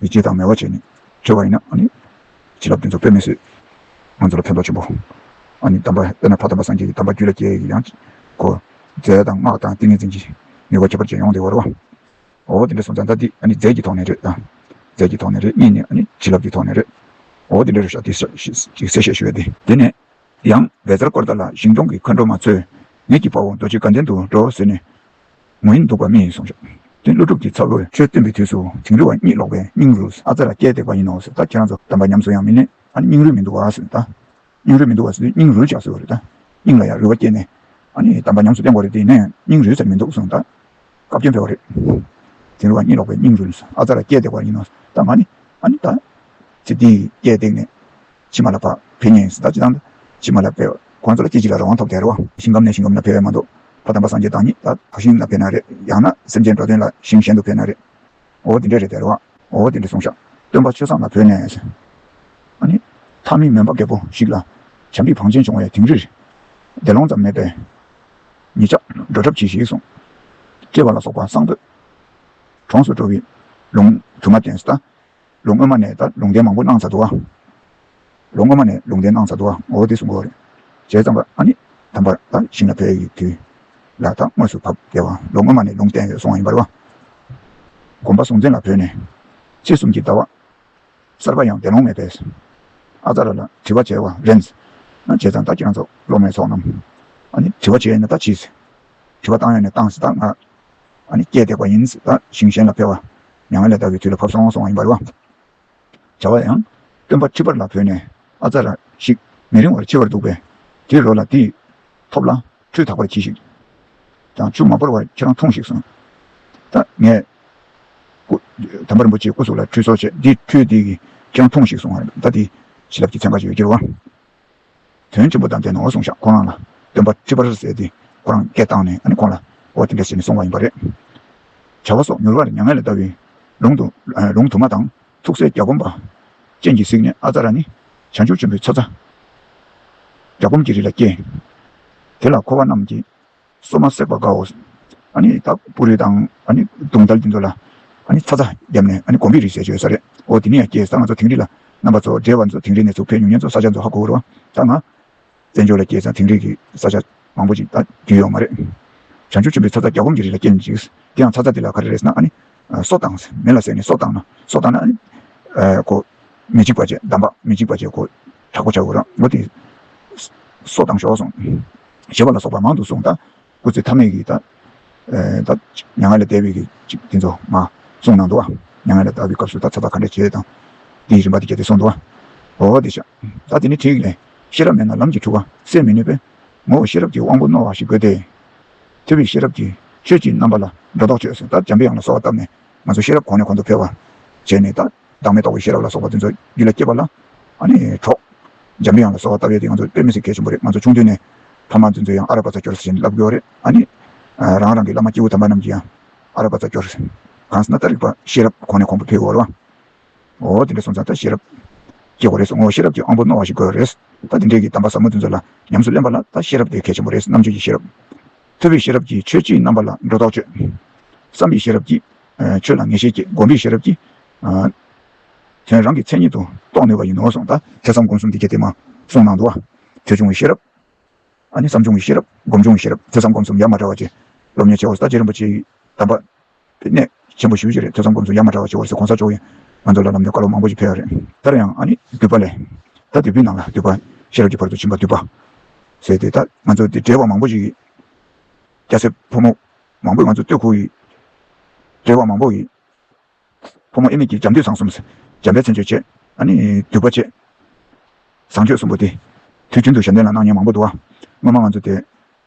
A: མི་སྐྱེ་དང་མེད་བར་བྱས་ནས་འཆོལ་བ་ཡིན་ན། བྱིན་རླབས་འདི་ཚོ་དཔེ་མི་སྲིད། ང་ཚོ་ལ་ཕན་ཐོགས་ཆེན་པོ། གདམས་པ། དཔེར་ན་ཕ་དམ་པ་སངས་རྒྱས་ཀྱི་གདམས་པ་རྒྱུད་ལ་སྐྱེ་ཡི་ཡང་ཅིག་གོ། རྫས་དང་སྔགས་དང་ཏིང་ངེ་འཛིན་གྱིས་ནུས་པ་ཁྱད་པར་ཅན་ཡོང་སྟེ་བར་བ། འོ་དེ་འདྲའི་སོ་མཚན་ད་འདི་རྫས་ཀྱི་ཐོག་ནས་རེད། རྫས་ཀྱི་ཐོག་ནས་རེད་གཉིས་ནི་བྱིན་རླབས་ཀྱི་ཐོག་ནས་རེད། འོ་དེ་འདྲའི་རེད་ཤག་དེ་ཞེས་གསལ་བཤད་ཞུ་ཡོད་དེ། དེ་ནས་ཡང་བལ་བཟར་སྐོར་ལྟར་ལ་ཞིང་སྐྱོང་གི་མཁའ་འགྲོ་མ་ཚོས་ངེད་ཀྱི་དཔའ་བོ་རྡོ་རྗེ་དགའ་ལྡན་དུ་འགྲོ་ཟེར་ནས། ངོ་ཡིན་འདུག་པ་སྨྲས་ཡིན་གསུངས་བྱུང། དོན་ཀླུ་སྒྲུབ་ཀྱི་ཚབ་ལོས་ཆོས་སྟོན་པའི་དུས་སུ་དིང་རི་བ་གཉིད་ལོག་པའི་སྙིང་རུས་ཨ་ཙེ་ལ་བསྐྱལ་བཏེགས་པ་ཡིན་ནོ་ཟེར་ད་ཁྱེད་རང་ཚོ་དམ་པ་ཉམས་སུ་ཡང་མི་ལེན་ཨ་ནི་སྙིང་རུས་མི་འདུག་བ་ཟེར་ནས་ད། སྙིང་རུས་མི་འདུག་བ་ཟེར་དུས་སྙིང་རུས་ཆགས་སྲོལ་རེད་ད། སྙིང་ལ་ཡང་རུས་བ་བསྐྱལ་ནས་ཨ་ནི་དམ་པ་ཉམས་སུ་བསྟེན་དགོས་རེད་དེ་ནས་སྙིང་རུས་ཟེར་མི་འདུག་གསུངས་ད། བཀའ་བཀྱོན་ཕེར་བ་རེད། དིང་རི་བ་གཉིད་ལོག་པའི་སྙིང་རུས་ཨ་ཙེ་ལ་བསྐྱལ་བཏེགས་པ་ཡིན་ནོ་ད་ང་ནི་ཨ་ནི་ད། ཚེ་འདིའི་བསྐྱལ་བཏེགས་ནས་ཕྱི་མ་ལ་བག་ཕེབས་ཉེན་བརྡ་སྤྱི་དང། ཕྱི་མ་ལ་བས་ཁོང་ཚོ་ལ་སྐྱེ་འཆི་ལ་རང་དབང་ཐོབ་བསྡད་རོགས། ཞིང་ཁམས་ནས་ཞིང་ཁམས་ལ་ཕེབས་ཡ་མ་འདུག་ཕ་དམ་པ་སངས་རྒྱས་བདག་ཉིད་ལ་དག་ཞིང་ལ་ཕེབས་ན་རེད་ཡང་ན་སེམས་ཅན་འགྲོ་དོན་ལ་ཞིང་གཞན་དུ་ཕེབས་ན་རེད་འོ་དེ་འདྲས་རེད་བསྡད་རོགས་འོ་དེ་འདྲས་སོང་ཤག་སྟོན་པ་ཆོས་བཟང་ལ་བོས་ནས་ཨ་ནི་མཐའ་མི་མོན་པ་རྒད་པོ་ཞིག་ལ་བྱམས་པའི་བང་ཆེན་བྱུང་བའི་དིང་རིར་བདེ་སློང་ཙམ་མེད་པའི་ཉེ་ཆགས་འགྲོ་གྲབས་གྱིས་ཤིག་གསུངས་སྐྱེ་བ་ལ་སོགས་པ་གསང་བོད་གྲོངས་སུ་འགྲོ་བའི་ལུང་དུ་མ་བསྟན་ཟླ། ལོ་སྔོན་མ་ནས་ད་ལུང་བསྟན་མང་པོ་གནང་ཚར་འདུག་ཨ། ལོ་སྔོན་མ་ནས་ལུང་བསྟན་གནང་ཚར་འདུག་ཨ་ངོ་བོ་དེ་སུ་འགོ་བ་རེད། བྱས་ཙང་པ་ཨ་ནི་དམ་པར་ད་ཞིང་ལ་ཕེབས་ཡོད་དུས་ལ་ད་དངོས་སུ་བབས་དེ་བ་ལོ་སྔོན་མ་ནས་ལུང་བསྟན་ཡོད་སོང་བ་ཡིན་པར་བ། དགོན་པ་སྲོང་བཙན་ལ་བོས་ནས་ཕྱི་གསུམ་གྱི་ཟླ་བ་གསར་པ་ཡང་བདེ་ལོང་མེད་པས། ཨ་ཙཱ་ར་ལ་དྲི་བ་བྱས་བ་རེད། ན་བྱས་ཙང་ད་ཁྱེད་རང་ཚོ་སློབ་མའི་ཚོགས་རྣམས་ཨ་ནི་དྲི་བ་བྱས་ཡོད་ན་ད་བྱས། དྲི་བ་བཏང་ཡོད་ན་བཏང་ཟིན་ད་ང་ཨ་ནི་སྐྱེས་འདེགས་པ་ཡིན། ཟླ་ཞིང་གཞན་ལ་འཕེལ་བ། མྱ་ངན་ལས་འདའ་བའི་དུས་ལ་བབ་སོང་སོང་བ་ཡིན་པར་བ། བྱ་བ་ཡང། སྟོན་པ་ཁྲི་པར་ལ་བོས་ནས། ཨ་ཙཱ་ར་ཤིག། མི་རིང་བར་འཆི་བར་འདུག་པས། དེའི་རོ་ལ་འདི། ཐོབ་ལ། ཁྲུས་དག་པར་གྱིས་ཤིག། ཀྱང་ཆུ་མ་བོར་བར་ཁྱེད་རང་འཐུང་ཞིག་གསུངས། ད་ངས། སྐུ། དམ་པ་རིན་པོ་ཆེའི་སྐུ་གཟུགས་ལ་ཁྲུས་གསོག་བྱས། འདི་ཁྲུས་འདི། ཁྱེད་རང་འཐུང་ཞིག་གསུངས། ཟླ་འདི། བྱིན་རླབས་ཀྱི་ཚན་ཁ་ཅིག་ཡོད་ཀྱི་རུ་བ། དོན་ཆེན་པོ་དང་ལྡན་ནོ་གསུངས་ཤག་ཁོ་རང་ལ་སྟོན་པ་ཁྲི་པར་ཟེར་ཏེ་ཁོ་རང་སྐད་བཏང་ནས་ཁོང་ལ་འོ་དེ་འདྲ་ཞེས་ནས་སོང་བ་ཡིན་པ་རེད། བྱ་བ་སོགས་མྱུར་བར་མྱ་ངན་ལས་བཟླ་བའི་ལུང་དུ་མ་དང་ཐུགས་སྲས་བརྒྱ་སྒོམ་པ་སྤྱན་གྱིས་གཟིགས་ནས་ཨ་ཙཱ་ར་ནི་བྱང་ཆུབ་ཆེན་པོའི་ཚོགས། བརྒྱ་སྒོམ་གྱི་རི་ལ་སྐྱེས། དེ་ལ་འཁོར་བ་རྣམས་ཀྱི། སོ་མ་བསྲེགས་པར་དགའོ། དག་པོ་རི་དང་དུང་ཐལ་གྱི་མཛོད་ལ། ཚ་ཚ་བརྒྱབ་ནས་དགོན་པའི་རིགས་ཞེས་བརྗོད་ས་རེད་འོ། དེ་ནས་ཡང་སྐྱེས་ས་ང་ཚོ་དིང་རི་ལ། རྣམ་པ་ཚོ་བསྒྲལ་བ་ཚོ་དིང་རི་ནས་ཚུགས་མཁན་ཉུང་ཉེན་ཚོ་ས་ཆ་ཚོ་ཧ་གོ་བོར་བ་ད་ང། བཙན་བྱོལ་ལ་སྐྱེས་ས་དིང་རི་གི་ས་ཆ་མང་པོ་ཅིག་ད་རྒྱུས་ཡོད་མ་རེད། བྱང་ཆུབ་ཆེན་པོའི་ཚ་ཚ་རྒྱ་སྒོམ་གྱི་རི་ལ་སྐྱེས་མཆིས། དེ་ཡང་ཚ་ཚ་དེ་ལ་ག་རེ་རེད་ཟེར་ན། སོ་བཏང། མེ་ལ་བསྲེགས་ནས་སོ་བཏང་ན་སོ་བཏང་ན། མི་འཇིགས་པ་བཅས་བསྡམས་པ་མི་འཇིགས་པ་བཅས་གོ། དྲག་པོ་བྱའོ་རང་ངོ་དེ། སྲོག་དང་ཞོ་སོང། ཞེས་པ་ལ་སོགས་པ་མང་དུ་གསུངས། སྐུ་ཚེ་ཐ་མལ་གྱི། མྱ་ངན་ལས་འདས་པའི་ཚིག་དེ་ཚོ་མ། གསུངས་གནང་འདུག། མྱ་ངན་ལས་འདའ་བའི་སྐབས་སུ་ད་ཚ་བ་ག་འདྲ་བྱེད་དང། དེའི་རིམ་པ་དེ་བརྒྱད་དེ་གསུངས་འདུག། འོ་དེ་ཤ། ད་དེ་ནི་ཐིག་ལེ། ཤེས་རབ་མེད་ན་ལམ་གྱི་འཁྲུལ་བ་སེལ་མི་ནུས་པས། ངོ་བོ་ཤེས་རབ་ཀྱི་དབང་པོ་རྣོ་བ་ཞིག་དགོས་ཏེ། ཐོས་པའི་ཤེས་རབ་ཀྱིས་ཆོས་ཀྱི་རྣམ་པ་ལ་སྒྲོ་འདོགས་གཅོད། ད་འཇམ་པའི་དབྱངས་ལ་སོགས་བཏབ་ནས་ང་ཚོ་ཤེས་རབ་གོང་ནས་གོང་དུ་འཕེལ་བར་བྱས་ནས་ད། བདག་མེད་རྟོགས་པའི་ཤེས་རབ་ལ་སོགས་པ་འཛིན་ཚོར་རྒྱུད་ལ་སྐྱེས་པ་ལ་གྲོགས། འཇམ་རི་ཡང་ལ་སོགས་བ་ལྟ་བའི་དེ་ང་ཚོར་དཔེ་མི་སྲིད་མཁས་ཆེན་པོ་རེད་ང་ཚོ་ཆུང་དུས་ནས། ཕ་མ་འཛིན་ཚོས་ཡང་ཨ་ར་བ་ཚ་སྐྱོར་ཟེར་བཞིན་བསླབ་དགོས་བ་རེད་ཨ་ནི། རང་རང་གི་བླ་མ་སྐྱེས་བུ་དམ་པ་རྣམས་ཀྱིས་ཡང་ཨ་ར་བ་ཚ་སྐྱོར། གང་སྲིད་ན་ད་རིག་པ་ཤེས་རབ་གོང་ནས་གོང་དུ་འཕེལ་དགོས་བ་རེད། འོ་དེ་འདྲ་སོང་ཙང་ད་ཤེས་རབ་སྐྱེས་དགོས་རེད་སོང་ངོ་ཤེས་རབ་ཀྱི་དབང་པོ་རྣོ་བ་ཞིག་དགོས་རེད། ད་དེ་འདྲས་ཀྱི་གདམས་པ་ཟབ་མོ་འཛིན་ཚོ་ལ་ཉམས་སུ་ལེན་པ་ལ་ད་ཤེས་རབ་དེ་མཁས་ཆེན་པོ་རེད་རྣམ་དཔྱོད་ཀྱི་ཤེས་རབ། ཐོས་པའི་ཤེས་རབ་ཀྱིས་ཆོས་ཀྱི་རྣམ་པ་ལ་སྒྲོ་འདོགས་གཅོད། བསམ་པའི་ཤེས་རབ་ཀྱིས་ཆོས་ལ་ངེས་ཤེས་བསྐྱེད་བསྒོམ་པའི་ཤེས་རབ་ཀྱིས། དོན་རང་གི་མཚན་ཉིད་དུ་རྟོགས་ནུས་པ་ཡིན་ནོ་གསུངས། ཐེ་ཚོམ་སྒོམ་གསུམ་གྱི་གལ་ཏེ་མ་གསུངས་ནང་དུ། ཆོས་འབྱུང་བའི་ཤེས་རབ། བསམ་འབྱུང་བའི་ཤེས་རབ། སྒོམ་འབྱུང་བའི་ཤེས་རབ་ཐེ་ཚོམ་སྒོམ་གསུམ་ཡ་མ་བྲལ་བ་ཅན། སློབ་གཉེར་བྱེད་པོ་ས་སྐྱའི་རིན་པོ་ཆེའི་དམ་པ། དེ་ནས་ཆེན་པོ་ཞི་བའི་ཆོས་རེད་ཐོས་བསམ་སྒོམ་གསུམ་ཡ་མ་བྲལ་བ་བྱེད་བར་སོ་གོང་ས་མཆོག་གིས་ང་ཚོ་ལ་ལམ་སྟོན་བཀའ་སློབ་མང་པོ་ཞིག་ཕེལ་བ་རེད། ལྟར་ཡང་ཨ་ནི་བསྡུས་པ་ལས། ད་དེ་བུའི་ནང་ལ་བསྡུས་པ་ཤེས་རབ་ཀྱི་བར་དུ་ཕྱིན་པ་བསྡུས་པ། ཟེར་ཏེ་ད་ང་ཚོ་འདི་བྲེལ་བ་མང་པོ་ཞིག་ཡིན། སྐྱ་སེར་ཕོ་མོ་མང་པོས་ང་ཚོ་སྟོད་ཁུག་ཡིན། བྲེལ་བ་མང་པོ་ཡིན། ཕོ་མོ་ཨེ་མེད་ཀྱི་རྒྱབ་མདུན་བཟང་གསུམ་འཇམ་དཔལ་མཚན་བརྗོད་བྱས་ཨ་ནི་བསྡུས་པ་བྱས། བཟང་སྤྱོད་གསུམ་པོ་དེ་དུས་རྒྱུན་དུ་ཞབས་འདྲེན་ལ་སྣང་བརྙན་མང་པོ་འདུག་ཨ་སྔོན་མ་ང་ཚོ་དེ་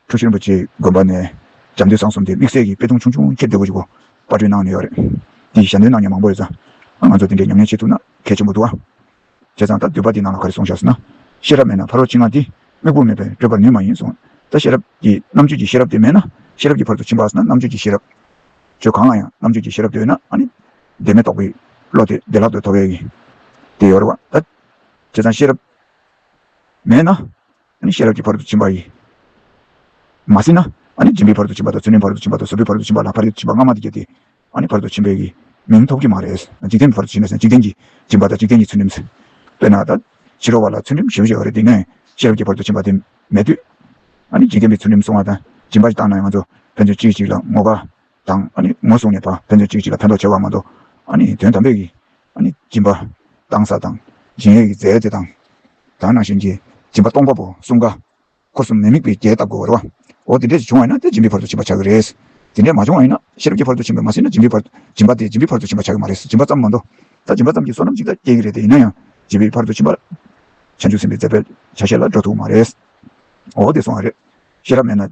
A: ཁྲོ་ཆེན་པོ་ཆེའི་དགོན་པ་ནས་ལྕམ་སྡེ་བཟང་གསུམ་དེ་དམིགས་བསལ་གྱིས་དཔེ་ཐུང་ཆུང་ཆུང་ཁྱེར་འདོད་གོ་ཞིག་གོ་དཔར་སྐྲུན་གནང་ནས་ཡོད་རེད། འདི་ཞལ་འདོན་གནང་མཁན་མང་པོ་རེད་ས། ང་ཚོ་དེ་འདྲའི་ཉམས་ཉེན་བྱེད་ཐུབ་ན་གལ་ཆེན་པོ་འདུག་ཨ། བྱས་ཙང་ད་འདོད་པ་འདི་ནང་ལ་ག་རེ་གསུང་བཞག་ཟེར་ན། ཤེས་རབ་མེད་ན་ཕ་རོལ་ཕྱིན་སྔ་འདི་དམིགས་བུ་མེད་པས་བགྲོད་པར་ནུས་མ་ཡིན་གསུང། ད་ཤེས་རབ་ཀྱི་རྣམ་དཔྱོད་ཀྱི་ཤེས་རབ་དེ་མེད་ན་ཤེས་རབ་ཀྱི་བར་དུ་ཕྱིན་པ་ཨ་ཟེར་ན་རྣམ་དཔྱོད་ཀྱི་ཤེས་རབ། ཆོས་གང་ལ་ཡང་རྣམ་དཔྱོད་ཀྱི་ཤེས་རབ་འདོད་ན་ཨ་ནི། བདེན་མེད་རྟོགས་པའི་བློ་དེ་བདེ་བླག་ཏུ་ཐོབ་ཡས་ཀྱི། དེ་ཡོད་རེད་བ། ད་བྱས་ཙང་ཤེས་རབ་མེད་ན། ནི་ཤེས་རབ་ཀྱི་བར་དུ་བྱིན་པ་ཡིན། མ་ཟིན་ན། ནི་སྦྱིན་པའི་བར་དུ་བྱིན་པ་དང་ཚུལ་མིན་བར་དུ་བྱིན་པ་དང་བཟོད་པའི་བར་དུ་བྱིན་པ་ལ་བར་དུ་བྱིན་པ་སྔ་མ་དེ་བརྒྱད་དེ། ནི་བར་དུ་བྱིན་པའི། མིང་ཐོབ་ཀྱི་མ་རེད། འཇིག་རྟེན་པའི་བར་དུ་བྱིན་ནས་འཇིག་རྟེན་གྱིས་སྦྱིན་པ་དང་འཇིག་རྟེན་གྱི་ཚུལ་ཁྲིམས། དཔེར་ན། ད་ཕྱི་རོལ་བ་ལ་ཚུལ་ཁྲིམས་ཞེས་པ་ཞིག་ཨ་རེ་དེ་ནས་ཤེས་རབ་ཀྱི་བར་དུ་བྱིན་པ་དེ་མེད་དུས། ནི་འཇིག་རྟེན་པའི་ཚུལ་ཁྲིམས་སྲུང་བ་དང་སྦྱིན་པ་ཞིག་བཏང་ན་ཡང་ང་ཚོ་ཕན་ཚུན་གཅིག་གཅིག་ལ་ངོ་དགའ། དང། ངོ་བཟུང་ནས་བ་ཕན་ཚུན་གཅིག་གཅིག་ལ་ཕན་འདོགས་བྱེད་པར་མ་གཏོགས། དོན་དམ་པའི་སྦྱིན་པ། གཏང་ས་དང། སྦྱིན་ཡོད་ཀྱི་རྫས་དེ་དང། དག་སྣང་གཞན་གྱིས་སྦྱིན་པ་སྟོང་པ་པོ་གསུམ་ཀ། འཁོར་གསུམ་མི་དམིགས་པས་རྒྱས་བཏབ་དགོས་པ་རེད། འོ་དེ་འདྲས་ཀྱི་བྱུང་བ་ཡིན་ན་དེ་སྦྱིན་པའི་བར་དུ་ཕྱིན་པར་བྱ་གི་རེད། དེ་འདྲས་མ་བྱུང་བ་ཡིན་ན་ཤེས་རབ་ཀྱི་བར་དུ་ཕྱིན་པར་མ་ཟིན་ན་སྦྱིན་པའི་སྦྱིན་པ་དེ་སྦྱིན་པའི་བར་དུ་ཕྱིན་པར་བྱ་གི་མ་རེད། སྦྱིན་པ་ཙམ་མ་འདོད་ད་སྦྱིན་པ་ཙམ་གྱིས་བསོད་ནམས་ཅིག་ལ་སྐྱེ་གི་རེད་དེ་ཡིན་ན་ཡང་སྦྱིན་པའི་བར་དུ་ཕྱིན་པར་བྱ། འཇུག་ཟིན་པའི་རྫས་པས་ཆ་ཤས་ལ་འགྲོ་ཐུབ་མ་རེད། འོ་དེ་སོང་བ་རེད། ཤེས་རབ་མེད་ན།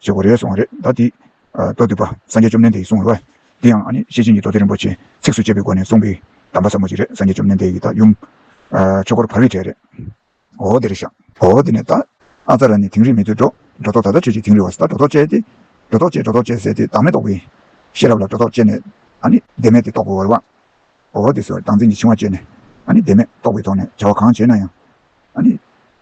A: ཞེས་འོ་རེ་སོང་བ་རེད་ད་དེ། བསྟོད་བསྡུས་པ་སངས་རྒྱས་བཅོམ་ལྡན་འདས་ཀྱིས་གསུངས་བའི་བ། དེ་ཡང་ཨ་ནི་ཤེས་བྱའི་ཉི་ཐོག་ཏི་རིན་པོ་ཆེས་ཚིགས་སུ་བཅད་པའི་སྒོ་ནས་གསུངས་པའི་གདམས་པ་ཟབ་མོ་ཅིག་རེད་སངས་རྒྱས་བཅོམ་ལྡན་འདས་ཀྱིས་ད་ཡུམ། ཆོས་འཁོར་བར་བའི་གྲས་རེད། འོ་དེར་བཞག། འོ་དེ་ནས་ད། ཨ་ཙཱ་ར་ནི་དིང་རི་མི་སྡོད་འགྲོ། འགྲོ་ལྡོག་ད་ལྟ་ཁྱོད་ཀྱིས་དིང་རི་བ་ད་འགྲོ་ལྡོག་བཅད་དེ། འགྲོ་ལྡོག་བཅད་འགྲོ་ལྡོག་བཅད་ཟེར་དེ་བདག་མེད་རྟོགས་པའི། ཤེས་རབ་ལ་འགྲོ་ལྡོག་བཅད་ནས། ཨ་ནི་བདེན་མེད་དེ་རྟོགས་པའི་བར་བ། འོ་དེ་སོར་སྡང་འཛིན་གྱི་འཆིང་བ་བཅད་ནས། ཨ་ནི་བདེན་མེད་རྟོགས་པའི་ཐོག་ནས་བྱ་བ་གང་བྱས་ན་ཡང། ཨ་ནི།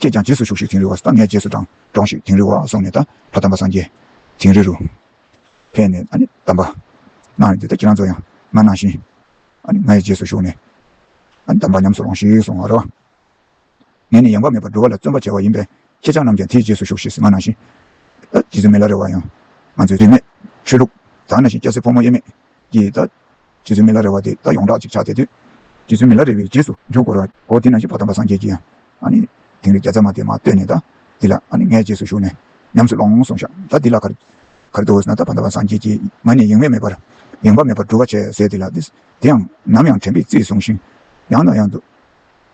A: ཁྱེད་ཀྱང་རྗེས་སུ་ཞུགས་ཤིག་དིང་རི་བ་ས་ངས་རྗེས་སུ་འབྲང། འབྲོངས་ཤིག་དིང་རི་བ་སོང་ནས་ད་བར་དམ་པ་སངས་རྒྱས། དིང་རི་རུ། ཕེབས་ནས་ཨ་ནི་དམ་པ། གནང་ཡོད་འདི་ལྟར་ཁྱེད་རང་ཚོ་ཡང་ང་ནང་བཞིན། ཨ་ནི་ང་ཡི་རྗེས་སུ་ཞུགས་ནས། ཨ་ནི་དམ་པ་ཉམས་སུ་རོངས་ཤིག་གསུང་ངོ། རོ། ངས་ནི་ཡེངས་བ་མེད་པར་འགྲོ་བ་ལ་བརྩོན་པ་བྱས་བ་ཡིན་པས་ཁྱེད་ཅག་རྣམས་ཀྱང་དེའི་རྗེས་སུ་ཞུགས་ཤིག་ང་ནང་བཞིན། ད་རྗེ་བཙུན་མི་ལ་རེ་བ་ཡང། ང་ཚོའི་རིས་མེད་ཆོས་ལུགས། དག་ན་བཞིན་སྐྱ་སེར་ཕོ་མོ་དབྱེར་མེད་ཀྱིས། ད་རྗེ་བཙུན་མི་ལ་རེ་བ་དེ་ད་ཡོངས་གྲགས་ཅིག་ཆགས་བསྡད་དུས། རྗེ་བཙུན་མི་ལ་རེ་བའི་རྗེས་སུ་འཇུག་གོ་རོའོ་དེ་ན་གཞི་བ་དམ་པ་སངས་རྒྱས་ཀྱི་ཡང་ཨཱནི། དིང་རི་བརྒྱ་རྩ་མ་དེ་མ་བཏོད་ནས་ད་འདི་ལ་ཨཱནི་ངའི་རྗེས་སུ་ཞུགས་ནས་ཉམས་སུ་ལོང་གསུངས་ཤག་ད་འདི་ལ་གར། གར་དུ་འོས་ན་ད་བ་དམ་པ་སངས་རྒྱས་ཀྱི་ངང་ནས་ཡེངས་མེད་མེད་པར་ཡེངས་པ་མེད་པར་འགྲུབ་བ་བྱས་ཟེར་དེ་ལ་འདི་དེ་ཡང་ནམ་ཡང་དྲན་པས་རྩིས་བཟུང་ཞིང་ཡང་དང་ཡང་དུ་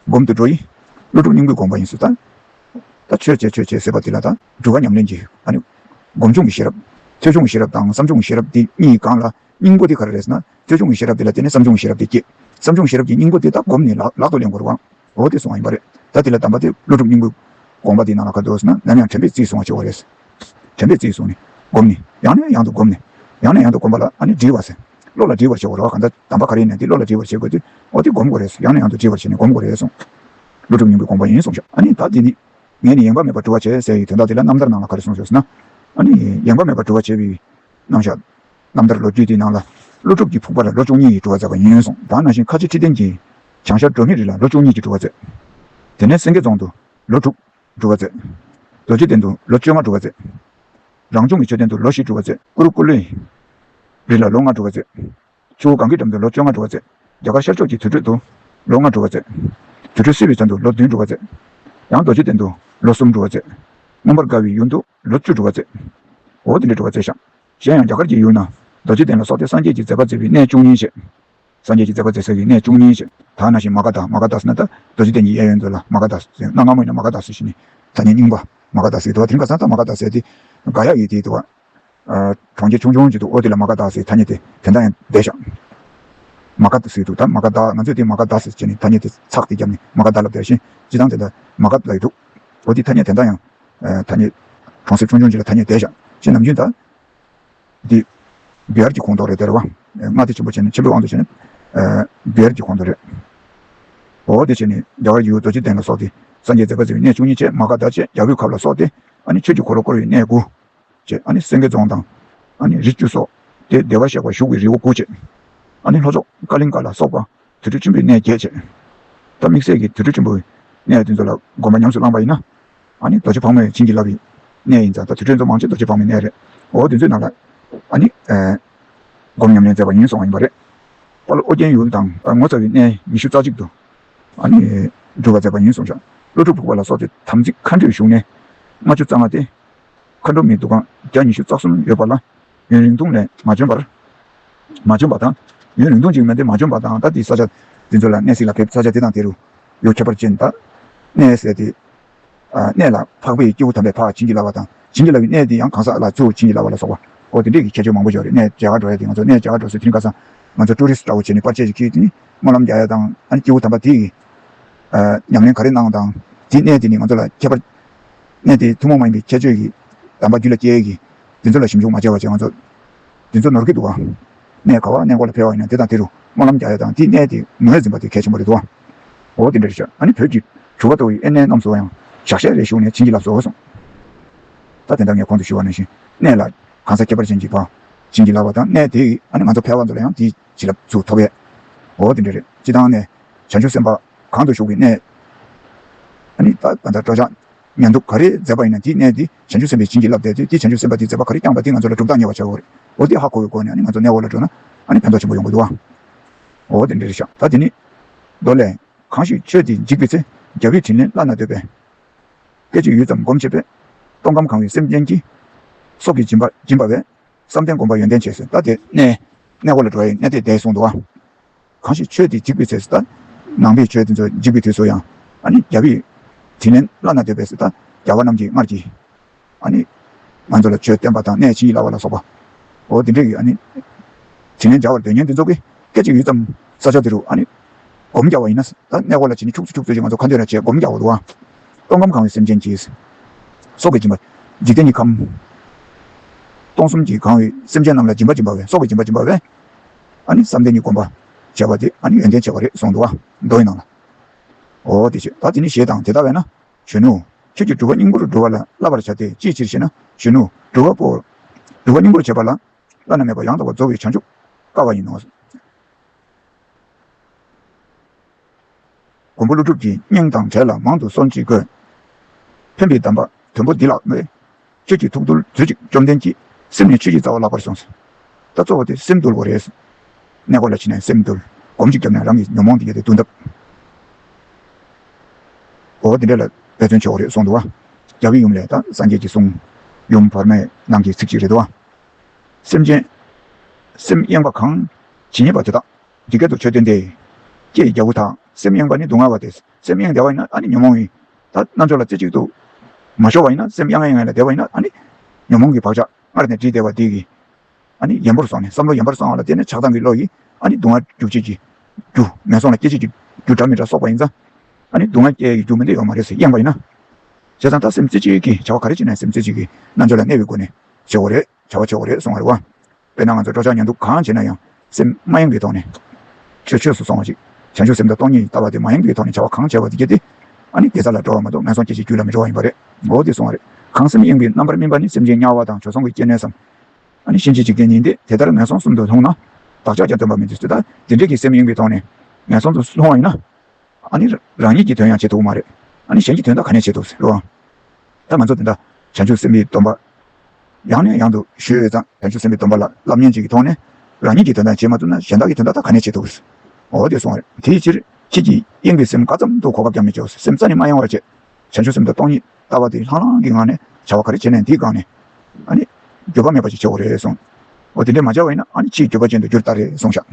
A: སྒོམ་དུ་འགྲོ་ཡི། ཀླུ་སྒྲུབ་སྙིང་པོས་དགོངས་པ་ཡིན་སྲིད་ད། ད་ཆོས་བྱེད་ཆོས་བྱེད་ཟེར་བ་དེ་ལ་ད་སྒྲུབ་བ་ཉམས་ལེན་གྱི་ཨཱནི། སྒོམ་བྱུང་གི་ཤེས་རབ། ཐོས་བྱུང་གི་ཤེས་རབ་དང་བསམ་བྱུང་གི་ཤེས་རབ་འདི་གཉིས་གང་ལ་སྙིང་པོ་དེ་ག་རེ་རེད་ཟེར་ན། ཅོལ་ཆུང་གི་ཤེས་རབ་དེ་ལ་བརྟེན་ནས་བསམ་བྱུང་གི་ཤེས་རབ་དེ་སྐྱེས། བསམ་བྱུང་ཤེས་རབ་ཀྱི་སྙིང་པོ་དེ་དག་བསྒོམས་ནས་ལག་ལག་ཏུ་ལེན་དགོས་རུང་ཨང། འོ་དེ་སོང་བ་ཡིན་པ་རེད། ད་དེ་ལ་གདམས་པ་དེ་ཀླུ་སྒྲུབ་སྙིང་པོའི་དགོངས་པ་དེའི་ནང་ལ་ག་འདུག་ཟེར་ན་ནམ་ཡང་དྲན་པས་རྩིས་བཟུང་བ་ཆེ་བ་རེད་ཟེར། དྲན་པས་རྩིས་བཟུང་ནས་བསྒོམས་ནས་ཡང་ནས་ཡང་དུ་བསྒོམས་ནས། ཡང་ནས་ཡང་དུ་བསྒོམས་པ་ལ་ཨ་ནི་འདྲིལ་བ་ཟེར། བློ་ལ་འདྲིལ་བར་བྱེད་དགོས་ར་བ་ག་འདྲ་གདམས་པ་ག་རེ་ཡིན་ན་དེ་བློ་ལ་འདྲིལ་བར་བྱེད་དགོས་དུས་འོ་དེ་བསྒོམ་དགོས་རེད་ཟེར་ཡང་ནས་ཡང་དུ་འདྲིལ་བར་བྱས་ནས་བསྒོམ་དགོས་རེད་གསུངས། ཀླུ་སྒྲུབ་སྙིང་པོའི་དགོངས་པ་ཡིན་གསུངས། ཨ་ནི་ད་དེ་ནི། ངས་ནི་ཡེངས་པ་མེད་པར་གྲུབ་བར་བྱས་ཟེར་ཡི་དོན་དག་དེ་ལ་རྣམ་ཐར་ནང་ལ་ག་རེ་གསུངས་ཟེར་ན། ཨ་ནི་ཡེངས་པ་མེད་པར་གྲུབ་བར་བྱས་པའི་གནང་ཞོར། རྣམ་ཐར་ལོ་རྒྱུས་དེའི་ནང་ལ། ཀླུ་སྒྲུབ་ཀྱིས་ཕུག་པ་ལ་ལོ་བཅུ་གཉིས་ཀྱི་བྲོ་བ་བཙལ་བ་ཉོན་སོང་གདའ་ན་ཞིང་ཁ་ཆེ་ཁྲི་ལྡན་གྱིས། བྱང་ཤར་འབྲོག་མི་རིགས་ལ་ལོ་བཅུ་གཉིས་ཀྱི་བྲོ་བ་བཙལ། དེ་ནས་སེང་གེ་རྫོང་དུ་ལོ་དྲུག་བྲོ་བ་བཙལ། རྡོ་རྗེ་གདན་དུ་ལོ་བཅོ་ལྔ་བྲོ་བ་བཙལ། རང་བྱུང་གི་མཆོད་རྟེན་དུ་ལོ་བཞི་བྲོ་བ་བཙལ། ཀུ་རུ་ཀུ་ལུའི་རི་ལ་ལོ་ལྔ་བྲོ་བ་བཙལ། ཆུ་བོ་གངྒཱའི་འགྲམ་དུ་ལོ་བཅོ་ལྔ་བྲོ་བ་བཙལ། རྒྱ་གར་ཤར་ཕྱོགས་ཀྱི་དུར་ཁྲོད་དུ་ལོ་ལྔ་བྲོ་བ་བཙལ། དུར་ཁྲོད་བསིལ་བའི་ཚལ་དུ་ལོ་བདུན་བྲོ་བ་བཙལ། ཡང་རྡོ་རྗེ་གདན་དུ་ལོ་གསུམ་བྲོ་བ་བཙལ། མངོན་པར་དགའ་བའི་ཡུལ་དུ། ལོ་བཅུ་དྲུག་པ་བཙས། འོ་དེ་འདྲའི་དྲུག་པ་བཙས་ཤག། གཞན་ཡང་རྒྱ་གར་གྱི་ཡུལ་ན། རྡོ་རྗེ་གདན་ལ་སོགས་ཏེ་སངས་རྒྱས་ཀྱི་མཛད་པ་མཛད་པའི་གནས་བཅུ་གཉིས་བྱེད། སངས་རྒྱས་ཀྱི་མཛད་པ་མཛད་ས་ཡི་གནས་བཅུ་གཉིས་བྱེད། དག་སྣ་ཞིང་མ་ག་དྷཱ་མ་ག་དྷཱ་སི་ན་ཏཱ། རྡོ་རྗེ་གདན་གྱི་གཡས་གཡོན་མཛོད་ལ་མ་ག་དྷཱ་སི། སེར་སྣ་སྔ་མོ་ཡིན་ན་མ་ག་དྷཱ་སི་བཞི་ནི། ཐ་སྙད་རྙིང་པ། མ་ག་དྷཱ་སིའི་དུ་བ་དེ་མཁའ་གསང་དང་མ་ག་དྷཱ་སེ་སྟེ། ག་ཡ་ཡི་དེའི་དུ་བ། གྲོང་ཁྱེར་ཆུང་ཆུང་གཅིག་ཏུ་ཨོ་དེ་ལ་མ་ག་དྷཱ་སིའི་ཐ་སྙད་དེ། དེ་འདྲ་ཡང་བཟླས་ཤག། མ་ག་དྷཱ་སིའི་དུ་དང་མ་ག་དྷཱ་ང་ཚོས་དེ་མ་ག་དྷཱ་སི་བྱས་ནས་ཐ་སྙད་དེ་ཚགས་དེ་བརྒྱབ་ནས་མ་ག་དྷཱ་ལ་བཟླས་ཤིང། ཅི་དང་དེ་འདྲ། མ་ག་དྷཱ་ཡི་དུ། ཨོ་དེའི་ཐ་སྙད་དེ་འདྲ་ཡང། ཐ་སྙད། གྲོང་གསེབ་ཆུང་ཆུང་ཅིག་ལ་ཐ་སྙད་བསྡད་བཞག་ཅེས་ནམ་རྒྱུན་ལྟར། འདི། སྒེར་གྱི་ཁོངས་གཏོགས་རེད་བསྡད་རེད་བ། མངའ་སྡེ་ཆེན་པོ་བྱས་ནས་ཆེན་པོའི་དབང་དུ་བྱས་ནས། སྒེར་གྱི་ཁོངས་གཏོགས་རེད། འོ་དེ་བྱས་ནས་རྒྱ་གར་ཡུལ་རྡོ་རྗེ་གདན་ལ་སོགས་ཏེ། སངས་རྒྱས་མཛད་པ་ཟེར་བའི་གནས་བཅུ་གཉིས་བཅས་མ་ག་དྷ་བཅས་རྒྱ་བོད་ཁབ་ལ་སོགས་ཏེ། ཨ་ནི་ཆོས་ཀྱི་འཁོར་ལོ་བསྐོར་བའི་གནས་དགུ། བཅས་ཨ་ནི་སེང་གེ་རྫོང་དང། ཨ་ནི་རི་བཅུ་སོགས་ཏེ་བདེ་བར་གཤེགས་པ་བཞུགས་པའི་རི་བོ་དགུ་བཅས། ཨ་ནི་ལྷོ་ཕྱོགས་ཀ་ལིང་ཀ་ལ་སོགས་པ་དུར་ཁྲོད་ཆེན་པོའི་གནས་བརྒྱད་བཅས། ད་དམིགས་བསལ་གྱི་དུར་ཁྲོད་ཆེན་པོའི་གནས་དེ་ཚོ་ལ་དགོངས་པ་ཉམས་སུ་བླངས་པ་ཡིན་ན། ཨཱ་ནི་རྡོ་རྗེ་ཕག་མོའི་བྱིན་གྱིས་བརླབས་པའི་གནས་ཡིན། ད་དུས་གྲོས་མཛོད་མང་ཆེ་རྡོ་རྗེ་ཕག་མོའི་གནས་རེད། འོ་བདུན་ཚོས་ནང་ལ་ཨཱ་ནི། སྒོམ་ཉམས་ལེན་མཛད་པ་ཡིན་སོང་བ་ཡིན་པ་རེད། དཔའ་བློ་ཨོ་རྒྱན་ཡུལ་དང་དཔའ་ངོ་ཚ་བའི་གནས་ཉི་ཤུ་རྩ་གཅིག་ཏུ། ཨཱ་ནི། སྒྲུབ་པ་མཛད་པ་ཡིན་སོང་ཤག་བློ་གྲོས་ཕུག་པ་ལ་སོགས་ཏེ་དམ་ཚིག་མཁའ་འགྲོས་བཞུགས་གནས། ལྔ་བཅུ་རྩ་ལྔ་སྟེ། མཁའ་འགྲོ་མའི་འདུ་ཁང་བརྒྱ་ཉི་ཤུ་རྩ་གསུམ་ཡོད་པ་ལ། ཡུན་རིང་ཐུང་ནས་མ་བྱོན་པར། མ་བྱོན་པ་དང། ཡུན་རིང་ཐུང་ཅིག་མིན་ཏེ་མ་བྱོན་པ་དང་ད་དེའི་ས་ཆ་དེ་ཚོ་ལ་གནས་སྲིད་ལ་ཕེབས་ས་ཆ་དེ་དང་དེ་རུ་ཡོད་ཁྱད་པར་ཅན་དག། གནས་ཟེར་ཏེ། གནས་ལ་འཕགས་པའི་སྐྱེས་བུ་དམ་པའི་བག་བྱིན་གྱིས་བརླབས་པ་དང་བྱིན་གྱིས་བརླབས་པའི་གནས་དེ་ཡང་གང་ཟག་ལ་ཚུར་བྱིན་གྱིས་བརླབས་པ་ལ་སོགས་པ་སྐོར་དེ་འདྲས་ཀྱི་ཁྱད་ཆོས་མང་པོ་འཇོག་རེ་གནས་རྒྱ་གར་འགྲོ་ཡ་དེ་ང་ཚོ་གནས་རྒྱ་གར་འགྲོ་སྲིད་དེ་རིང་ཁ་སང་ང་ཚོ Tourist འདྲ་བོ་བྱས་ནས་པར་ཆས་ཞིག་ཁྱེར་དེ་ནས་སྨོན་ལམ་རྒྱག་ཡ་དང་ཨ་ནི་སྐྱེས་བུ་དམ་པ་དེ་ཡིས་ཉམས་ལེན་ག་རེ་གནང་དང་དེའི་གནས་དེ་ནི་ང་ཚོ་ལ་ཁྱད་པར་གནས་དེ་ཐུན་མོང་མ་ཡིན་པའི་ཁྱད་ཆོས་ཀྱི་དམ་པ་རྒྱུད་ལ་སྐྱེས་ཀྱི་འདི་ཚོ་ལ་ཞིབ་འཇུག་མ་བྱས་བ་བྱེད་དབང་རྩོད། འདི་ཚོ་ནོར་གི་འདུག། གནས་ག་བ་གནས་འགོ་ལ་ཕེ་བ་ཡིན་ན་དེ་དང་དེ་རུ་སྨོན་ལམ་རྒྱག་ཡ་དང་དེ་གནས་དེ་ངོས་འཛིན་པ་དེ་གལ་ཆེན་པོ་རེད་དོ། འོ་དེ་འདྲ་རེད་ཤག་ཨ་ནི་བོད་ཀྱི་ཞུ་བ་ཏོ་ཡི་ཨེ་གནས་རྣམས་སུ་བ་ཡང་ཞག་ཤས་རེ་ཞུགས་ནས་བྱིན་གྱིས་རླབས་བཟོ་སོང། ད་དེ་འདྲ་ངས་གོང་དུ་ཞུ་བ་ནང་བཞིན་གནས་ལ་གང་ས་ཁྱད་པར་ཅན་གྱི་བ་བྱིན་གྱིས་རླབས་བ་དང་གནས་དེ་ཡི་ཨ་ནི་ང་ཚོ་ཕལ་བ་ཚོ་ལ་ཡང་དེའི་བྱིན་རླབས་ཚུ་ཐོབ་ཡས། འོ་དེ་འདྲ་རེད་སྤྱི་དང་གནས་བྱང་ཆུབ་སེམས་དཔའ་གང་དུ་ཞུགས་པའི་གནས། ཨ་ནི་ད་བ་འདྲ་སྤྲོ་བཞག་ཉན་ཐོས་ག་རེ་མཛད་པ་ཡིན་ན་དེའི་གནས་དེ་བྱང་ཆུབ་སེམས་དཔའི་བྱིན་གྱིས་བརླབས་མཛད་དེ་དེས་བྱང་ཆུབ་སེམས་དཔའ་དེའི་མཛད་པ་ག་རེ་བསྐྱངས་པ་དེ་ང་ཚོ་ལ་གྲུབ་རྟགས་ཉེ་བར་བྱའོ། འོ་དེས་ཧ་གོ་བའི་སྒོ་ནས་ནི་ང་ཚོ་གནས་འོག་ལ་འགྲོ་ན། ནི་ཕན་ཐོགས་ཆེན་པོ་ཡོང་གི་འདུག་ཨང། འོ་དེ་འདྲ་རེད་ཤག་ད་དེ་ནི། མདོ་ལས། གང་ཞིག་ཆོས་འདི་འཇིག་པའི་ཚེ། རྒྱལ་བའི་དྲིན་ལན་བླ་ན་འདོད་པས། སྐད་ཅིག་ཡུད་ཙམ་བསྒོམ་བྱེད་པས། སྟོང་ཁམས་གང་བའི་སེམས་ཅན་གྱི། སྲོག་གི་སྦྱིན་པ་སྦྱིན་པ་བས། བསམ་གཏན་བསྒོམ་པ་ཡོན་ཏན་ཆེ། ད་དེ་ནི། གནས་འོག་ལ་འགྲོ་བའི་གནས་དེ་བདེ་གསུངས་འདུག་ཨང། གང་ཞིག་ཆོས་དེ་འཇིག་པའི་ཚེ་སུ་ལྟ། ནང་པའི་ཆོས་དེ་ཚོ་འཇིག་པའི་དུས་སུ་ཡང། རྒྱལ་བའི་དྲིན་ལན་བླ་ན་དོད་པས་སུ་ལྟ། རྒྱལ་བ་རྣམས་ཀྱིས་སྔར་གྱི། ང་ཚོ་ལ་ཆོས་བསྟན་པ་དང་གནས་ཕྱི་ཡི་ལ་བ་ལ་སོགས་པའོ། དེ་འདྲའི། དྲིན་ལན་བརྒྱ་བར་འདོད་ཉན་དེ་ཚོ་གི། སྐད་ཅིག་ཡུད་ཙམ་ས་ཕྱོགས་དེ་རུ། སྒོམ་རྒྱག་བ་ཡིན་ན། གནས་སྐོར་ལ་བྱེད་ནི་ཁྱུག་ཚོད་ཁྱུག་ཚོད་ཅིག་ང་ཚོ་ཁ་འདོན་ར་བྱས་སྒོམ་རྒྱག་བ་འདུག་ཨང། སྟོང་ཁམས་གང་བའི་སེམས་ཅན་གྱི། སྲོག་གི་སྦྱིན་པ། འཇིག་རྟེན་གྱི་ཁམས། སྟོང་གསུམ་གྱི་གང་བའི་སེམས་ཅན་རྣམས་ལ་སྦྱིན་པ་སྦྱིན་པ་བས་སྲོག་གི་སྦྱིན་པ་སྦྱིན་པ་བས། ཨ་ནི་བསམ་གཏན་གྱི་སྒོམ་པ། བྱ་བ་དེ་ཨ་ནི་ཡོན་ཏན་བྱེད་པ་རེད་གསུངས་འདུག་བ། མདོ་ཡི་ནང་ལ། འོ་དེ་ཞེས་ད་དེ་ནི་ཞེས་དང་དེ་ལྟ་བས་ན། གཞོན་ནུ། ཁྱོད་ཀྱིས་སྒྲུབ་པ་སྙིང་པོར་སྒྲུབ་བ་ལ་བསླབ་པར་བྱ་སྟེ་ཅིའི་ཕྱིར་ཞེ་ན། གཞོན་ནུ། སྒྲུབ་བ་པོ། སྒྲུབ་པ་སྙིང་པོར་བྱེད་པ་ལ། བླ་ན་མེད་པ་ཡང་དག་པར་རྫོགས་པའི་བྱང་ཆུབ། དཀའ་བ་ཡིན་ནོ། མགོན་པོ་ཀླུ་སྒྲུབ་ཀྱི་སྙིང་དང་བྲལ་ལ་མང་དུ་གསོལ་ཅིག་དགོས། ཕན་པའི་གདམས་པ་དོན་པོ་འདི་ལགས་པས། ཁྱེད་ཀྱིས་ཐུགས་འདུལ་མཛོད་ཅིག་བཅོམ་ལྡན་གྱི་སེམས་ནི་ཆོས་ཀྱི་རྩ་བ་བརླག་པར་སོང་ཟིན། ད་གཙོ་བོ་དེ་སེམས་འདུལ་བོ་རེད། གནས་སྐོར་ལ་ཕྱིན་ནས་སེམས་འདུལ་སྒོམ་ཅིག་བརྒྱབ་ནས་རང་གི་ཉོན་མོངས་འདི་ཡལ་ཏེ་བསྡུ་འདབ་བོ་འདི་འདྲེ་ལ་འབད་བརྩོན་ཆོག་རེད་གསུངས་འདུག་བ། རྒྱ་བི་ཡུམ་ལས་ད་སངས་རྒྱས་ཀྱི་གསུང། ཡུམ་བར་མའི་ནང་གི་ཚིག་ཅིག་རེད་འདུག་བ། སེམས་ཅན། སེམས་གཡེངས་པ་གང། ཇི་སྙེད་པ་དེ་དག་ཇི་སྐད་དུ་ཆོས་སྟོན་ཏེ། ལྕེ་ཡི་རྒྱལ་པོ་དག་སེམས་གཡེངས་པ་ནི་སྡུག་བསྔལ་བ་སྟེ། སེམས་གཡེངས་བདེ་བ་ཡིན་ན་ཨ་ནི་ཉོན་མོངས་ཡིན། ད་རྣལ་འབྱོར་ལ་རྩེ་གཅིག་ཏུ། མ་ཤོར་བ་ཡིན་ན་སེམས་གཡང་གཡེངས་ལ་བདེ་བ་ཡིན་ན་ཨ་ནི། ཉོན་མོངས་ཀྱི་བག་ཆགས་སྔར་ནས་བྲིས་བདེ་བ་འདིས། ཨ་ནི་ཡན་པོར་སོང་ནས་བསམ་བློ་ཡན་པར་བསྲང་བ་ལ་བརྟེན་ནས་ཆགས་སྡང་གི་བློ་ཡིས་ཨ་ནི་སྡུག་བསྔལ་འཇུག་བྱེད་ཀྱི། རྒྱུ། ངན་སོང་ལ་སྐྱེ་བྱེད་ཀྱི་རྒྱུ་འདྲ་མི་འདྲ་སོགས་པ་ཡིན་ཙང། ཨ་ནི་སྡུག་བསྔལ་སྐྱེ་ཡི་རྒྱུ་མི་འདི་ཡོད་མ་རེད་ཟེར་གཡེངས་པ་ཡིན་ན། བྱས་ཙང་ད་སེམས་རྩེ་གཅིག་གིས་བྱ་བ་ག་རེ་བྱེད་ནའི་སེམས་རྩེ་གཅིག་གིས་རྣལ་འབྱོར་ལ་གནས་པའི་སྒོ་ནས་བྱེད་དགོས་རེད། བྱ་བ་ཆོག་གི་རེད་གསུངས་བ་རེད་བ། དཔེར་ན་ང་ཚོ་སྤྲོ་འཆམ་ཉོན་སྡུག་གང་བྱས་ན་ཡང་སེམས་མ་ཡེངས་པའི་ཐོག་ནས། ཆོས་ཆོས་སུ་སོང་བ་ཞིག་བྱང་ཆུབ་སེམས་དང་སྟོང་ཉིད་ལྟ་བ་དེ་མ་ཡེངས་པའི་ཐོག་ནས་བྱ་བ་གང་བྱས་པ་དེ་རྒྱལ་ཏེ། ཨ་ནི་དེ་ས་ལ་འགྲོ་བ་མ་གཏོགས་ངན་སོང་སྐྱེ་བྱེད་རྒྱུད་ལ་མི་འགྲོ་བ་ཡིན་པ་རེད་མགོ་བོ་དེ་གསུངས་བ་རེད། གང་སེམས་གཡེང་བའི་རྣམ་པར་སྨིན་པ་ནི་སེམས་ཅན་དམྱལ་བ་དང་བྱོལ་སོང་གི་སྐྱེ་གནས་སམ། ཨ་ནི་གཤིན་རྗེ་འཇིག་རྟེན་ཉིད་འདི་དེ་ལྟར་ངན་སོང་གསུམ་དུ་ལྷུང་ན། བདག་ཅག་ཀྱང་སྟོན་པ་མི་འདི་སུ་དང་དེ་འདྲས་ཀྱི་སེམས་གཡེང་བའི་ཐོག་ནས་ངན་སོང་དུ་ལྷུང་བ་ཡིན་ན། ཨ་ནི་རང་ཉིད་ཀྱི་དོན་ཡང་བྱེད་ཐུབ་མ་རེད། ཨ་ནི་གཞན་གྱི་དོན་དག་ག་ནས་བྱེད་ཐུབ་ཟེར་བའང། ད་ང་ཚོ་འདི་འདྲ་བྱང་ཆུབ་སེམས་དཔའི་སྡོམ་པ། ཡང་ནས་ཡང་དུ་ཞུས་འོས་ཙང་བྱང་ཆུབ་སེམས་དཔའི་སྡོམ་པ་ལ་བསླབ་ཉན་གཅིག་གི་ཐོག་ནས་རང་ཉིད་ཀྱི་དོན་དག་བྱེད་མ་ཐུབ་ན་གཞན་དག་གི་དོན་དག་དག་ག་ནས་བྱེད་ཐུབ། འོ་དེ་སོང་བར་དེའི་ཕྱིར་ཁྱེད་ཀྱིས་གཡེང་བའི་སེམས་ག་ཙམ་དུ་གོ་སྐབས་ཀྱང་མི་བྱོལ་སེམས་རྩ་ནས་མ་ཡེངས་བར་བྱེད། བྱང་ཆུབ་སེམས་དཔའ་སྟོང་ཉིད་ལྟ་བ་དེ་ལྷང་ལྷང་གི་ངང་ནས་བྱ་བ་ག་རེ་བྱེད་ནས་འདིས་དགག་ནས། འགྱོད་པ་མེད་པ་ཞིག་བྱེད་འོ་རེད་གསུངས། འོ་དེ་འདྲས་མ་བྱ་བ་ཡིན་ན་ཕྱིའི་འགྱོད་པ་ཅན་དུ་འགྱུར་ལྟ་རེད་གསུངས་ཤག།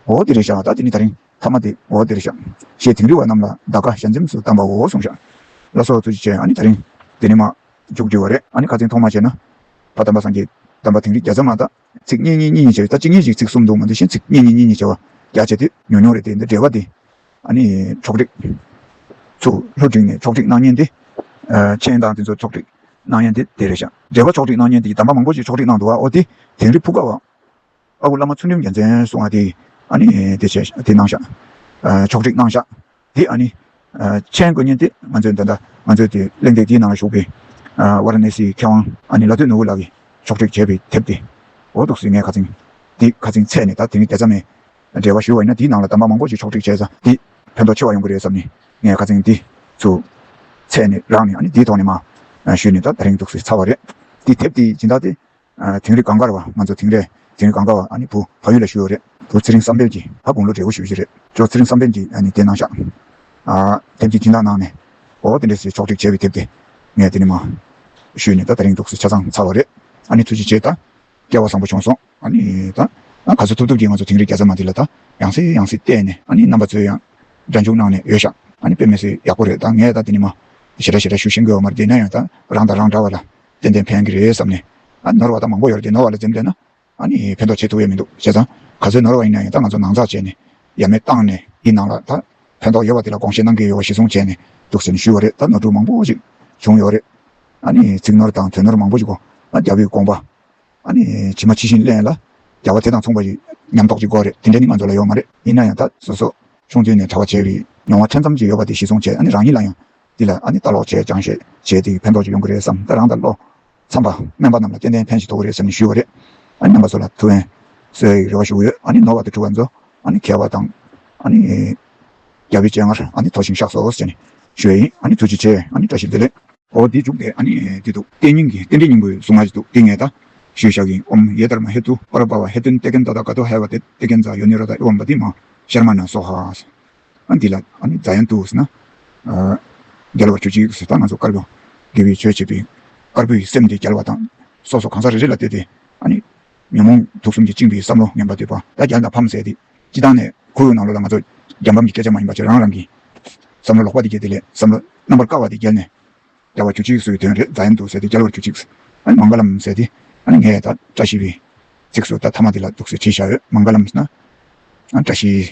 A: འོ་དེ་རེད་ཤག་ད་དེ་ནི་ད་རིང་ཐ་མ་དེ་འོ་དེ་རེད་ཤག། ཞེས་དིང་རི་བ་རྣམས་ལ་བདག་བཀའ་ཞལ་འཛེམས་སུ་བཏང་པའོ་གསུངས་ཤག། ལ་སོགས་ཚུལ་གྱིས་བྱས་ཨ་ནི་ད་རིང་དེ་ནི་མ། རྒྱུགས་བསྒྱུར་བ་རེད། ཨ་ནི་ཁ་ཚིག་མཐོང་མ་བྱས་ན། ཕ་དམ་པ་སངས་རྒྱས། དམ་པ་དིང་རི་རྒྱ་བཟའ་མ་དག། ཚིག་སྙན་སྙན་གཉིས་གཉིས་བྱས་ད་གཅིག་གཉིས་ཤིག་ཚིག་གསུམ་འདུག་མ་འདི་བཞིན་ཚིག་སྙན་སྙན་གཉིས་གཉིས་བྱས་བ་རྒྱ་བྱས་དུས་ཉུང་ཉུང་རེད་དེ་འདི་འབྲེལ་བ་འདི། ཨ་ནི་ཆོག་སྒྲིག། ཚུ་ལྷོ་སྒྲིག་ནས་ཆོག་སྒྲིག་གནང་ཉེན་འདི། མཆན་དང་དེ་ཚོ་ཆོག་སྒྲིག་གནང་ཉེན་འདི་དེ་རེད་བཞག་འབྲེལ་བ་ཆོག་སྒྲིག་གནང་ཉེན་འདི་ཀྱི་དམ་པ་མང་པོ་ཞིག་ཆོག་སྒྲིག་གནང་འདུག་བ་ཨོ་དེ་དིང་རི་ཕུག་དགའ་བ། ཨ་ཁུ་བླ་མ་ཚུལ་ཁྲིམས་རྒྱལ་མཚན་སོགས་ང་དེ་ཨ་ནི་དེ་བྱས་དེ་གནང་བཞག་ཕྱོགས་བསྒྲིགས་གནང་བཞག་དེ་ཨ་ནི་མཆན་འགོད་ཉིན་དེ་ང་ཚོས་འདི་འདྲ་ང་ཚོའི་དེ་གླེང་སྟེགས་དེའི་ནང་ལ་ཞུགས་པའི་བྷ་ར་ནེ་སིའི་མཁས་དབང་ཨ་ནི་ལ་སྟོད་ནོར་བུ་ལགས་ཀྱིས་ཕྱོགས་བསྒྲིགས་བྱས་པའི་དེབ་དེ་འོ་འདུག་ཟེར་ངས་ཁ་ཚིང་དེ་ཁ་ཚིང་ཚད་ནས་ད་དེ་ནི་དེ་ཚ་མས་འབྲེལ་བ་ཞུས་བ་ཡིན་ན་དེའི་ནང་ལ་དམ་པ་མང་པོ་ཞིག་ཕྱོགས་བསྒྲིགས་བྱས་ས་དེ་ཕན་ཐོགས་ཆེ་བ་ཡོང་གི་རེད་བསམ་ནས་ངས་ཁ་ཚིང་དེ་ཚུ་ཚད་ནས་རག་ནས་ཨ་ནི་དེའི་ཐོག་ནས་མ་ཞུས་ནས་ད་ད་རིང་འདུག་ཟེར་ཚར་བ་རེད་དེ་དེབ་དེ་སྦྱིན་བདག་དེ་དིང་རི་གངས་དཀར་བ་ང་ཚོ་དིང་རི་དིང་རི་གངས་དཀར་བ་ཨ་ནི་བུ་ཕ་ཡུལ་ལ་ཞུ་ཡོག་རེད། བུ་ཚེ་རིང་བསམ་འཕེལ་གྱིས་ད་དགུང་ལོ་བགྲེས་བོ་ཞུ་བཞིན་རེད། ཁྱོ་ཚེ་རིང་བསམ་འཕེལ་གྱིས་ཨ་ནི་དེ་གནང་ཤག། ཨ་དེབ་ཀྱི་སྦྱིན་བདག་གནང་ནས། ཨོ་དེ་འདྲས་ཞེས་ཕྱོགས་བསྒྲིགས་བྱས་པའི་དེབ་དེ། ངས་དེ་ནི་མ། ཞུས་ནས་ད་ད་རིང་འདུག་ཟེར་ཆ་ཚང་ཚར་བ་རེད། ཨ་ནི་ཐུགས་རྗེ་ཆེ་ད། སྐལ་བ་བཟང་པོ་བྱུང་སོང། ཨ་ནི་ད། ཨ་ག་ཚོད་ཐུབ་ཐུབ་ཀྱིས་ང་ཚོ་དིང་རི་རྒྱ་ཟ་མ་འདི་ལ་ད། ཡང་སྲིད་ཡང་སྲིད་བལྟས་ནས་ཨ་ནི་རྣམ་པ་ཚོས་ཡང། སྒྲ་འཇུག་གནང་ནས་ཡོད་ཤག། ཨ་ནི་དཔེ་མེད་སྲིད་ཡག་པོ་རེད་ད་ངས་ད་དེ་ནི་མ། ཞེ་དྲག་ཞེ་དྲག་ཞུ་བཞིན་དགོས་བ་མ་རེད་དེ་ན་ཡང་ད། རང་དང་རང་འདྲ་བ་ལ། ཏན་ཏན་ཕན་གྱི་རེད་བསམ་ནས་ནོར་བ་དང་མང་པོ་ཡོད་རེད་ནོར་བ་ལ་འཛེམ་བསྡད་ན་ཕན་ཐོགས་ཆེ་ཐུག་ཡས་མི་འདུག་བྱས་ཙང་ག་ཚོད་ནོར་བ་ཡིན་ན་ཡང་ད་ང་ཚོ་ནང་འཛག་བྱས་ནས་ཡ་མེད་བཏང་ནས་ཡིན་ནང་ལ་ད་ཕན་ཐོགས་ཡོད་བ་དེ་ལ་དགོངས་བཞེས་གནང་གི་ཡོད་བ་གཞི་བཟུང་བྱས་ནས་འདུག་ཟེར་ནས་ཞུས་བ་རེད་ད་ནོར་འཁྲུལ་མང་པོ་ཞིག་བྱུང་ཡོད་རེད་ཚིག་ནོར་དང་དོན་ནོར་མང་པོ་ཞིག་གོ་རྒྱ་བོད་དགོངས་པ་ཇི་མ་ཇི་བཞིན་གླེང་ལ་རྒྱ་བ་དེ་དང་མཚུངས་པ་ཞིག་ཉམས་རྟོགས་ཀྱི་སྒོ་རེད་དེ་འདྲ་ནི་ང་ཚོ་ལ་ཡོད་མ་རེད། ཡིན་ན་ཡང་ད་གཟོད་སོ་སོ་ཆུང་དུས་ནས་གྲྭ་བ་བྱས་པའི་མྱོང་བ་ཕྲན་ཙམ་ཞིག་ཡོད་པ་དེ་གཞི་བཟུང་བྱས་ནས་རང་ཉིད་ལ་ཡང་འདི་ལ་ཨ་ནི་ལྟ་ལོག་བྱས་ཀྱང་ཤེས་བྱའི་དེ་ཡི་ཕན་ཐོགས་ཅིག་ཡོང་གི་རེད་བསམ་སྟེ་རང་ལྟ་ལོག་འཚམས་པ་སྨན་པ་རྣམས་ལ་སྐྱེ་ལྡན་ཕན་ཞིག་ཐོགས་གི་རེད་ཟེར་ནས་ཞུས་བ་རེད། ཨ་ནི་སྨན་པ་ཚོ་ལ་ཐུགས་ཕན་གསོས་ཡི་རེ་བ་ཞུ་གི་ཡོད་ཨ་ནི་ནོར་བ་དེ་འཁྲུ་བ་མཛོད་ཨ་ནི་གས་པ་དང་ཨ་ནི་རྒྱ་བོའི་སྤྱན་སྔར་ཨ་ནི་མཐོ་ཞིང་ཤགས་སོ་ཟེར་ནས་ཞུས་ཡིན་ཨ་ནི་ཚུལ་གྱིས་བྱས་ཨ་ནི་བཀྲ་ཤིས་བདེ་ལེགས། ཨོ་དེ་འཇུག་དེ་ཨ་ནི་དེ་འདུག་ལྟས་སྙིང་གི་རྟེན་འབྲེལ་སྙིང་པོའི་གཟུངས་སྔགས་ཅིག་འདུག་དེ་ངས་ད་ཞུས་བཞག་གིན་ཨོམ་ཡེ་དར་མ་ཧེ་ཏུ་པ་ར་པ་བ་ཧེ་ཏུན་ཏེ་ཀན་ཏོ་ད་ག་ཏོ་ཧའི་བ་ཏེ་ཏེ་ཀན་ཛ་ཡོ་ནི་ར་ད་ཨི་ཝམ་བ་ཏི་མ་ཤར་མ་ན་སོ་ཧ། འདི་ལ་རྫ་ཡང་འདུག་ཟེར་ན། རྒྱལ་བ་ཁྱོད་ཅིག་ཟེར་ད་ང་ཚོ་དཀར་པོ་དགེ་བའི་ཆོས་བྱེད་པའི་དཀར་པོའི་སེམས་དེ་རྒྱལ་བ་དང་སོ་སོ་གང་ཟག་རེ་རེ་ལ་བསྟོད་དེ། ཉོན་མོངས་དུག་གསུམ་གྱིས་བཅིངས་པའི་བསམ་བློ་ངན་པ་དེ་བ་ད་རྒྱལ་དང་ཕམ་ཟེར་ཏེ་སྤྱི་བཏང་ནས་ཁོ་བོའི་ནང་ལོགས་ལ་ང་ཚོ་རྒྱལ་ཕམ་གྱི་སྐད་ཆ་མ་ཡིན་པ་ཆེད་རང་རང་གི་བསམ་བློ་ལོག་པ་དེ་བསྐྱེད་དེ་ལས་བསམ་བློ་རྣམ་པར་དཀར་བ་དེ་བསྐྱལ་ནས། རྒྱལ་བ་ཁྱོད་ཅིག་སོའི་དོན་རེད་རྫ་ཡང་འདུག་ཟེར་ཏེ་རྒྱལ་བ་ཁྱོད་ཅིག་མང་ག་ལམ་ཟེར་ཏེ། ངས་ད་བཀྲ་ཤིས་པའི་ཚིགས་སུ་ད་ཐ་མ་དེ་ལ་འདུག་ཟེར་བྲིས་བཞག་ཡོད་མང་ག་ལམ་ཟེར་ན། བཀྲ་ཤིས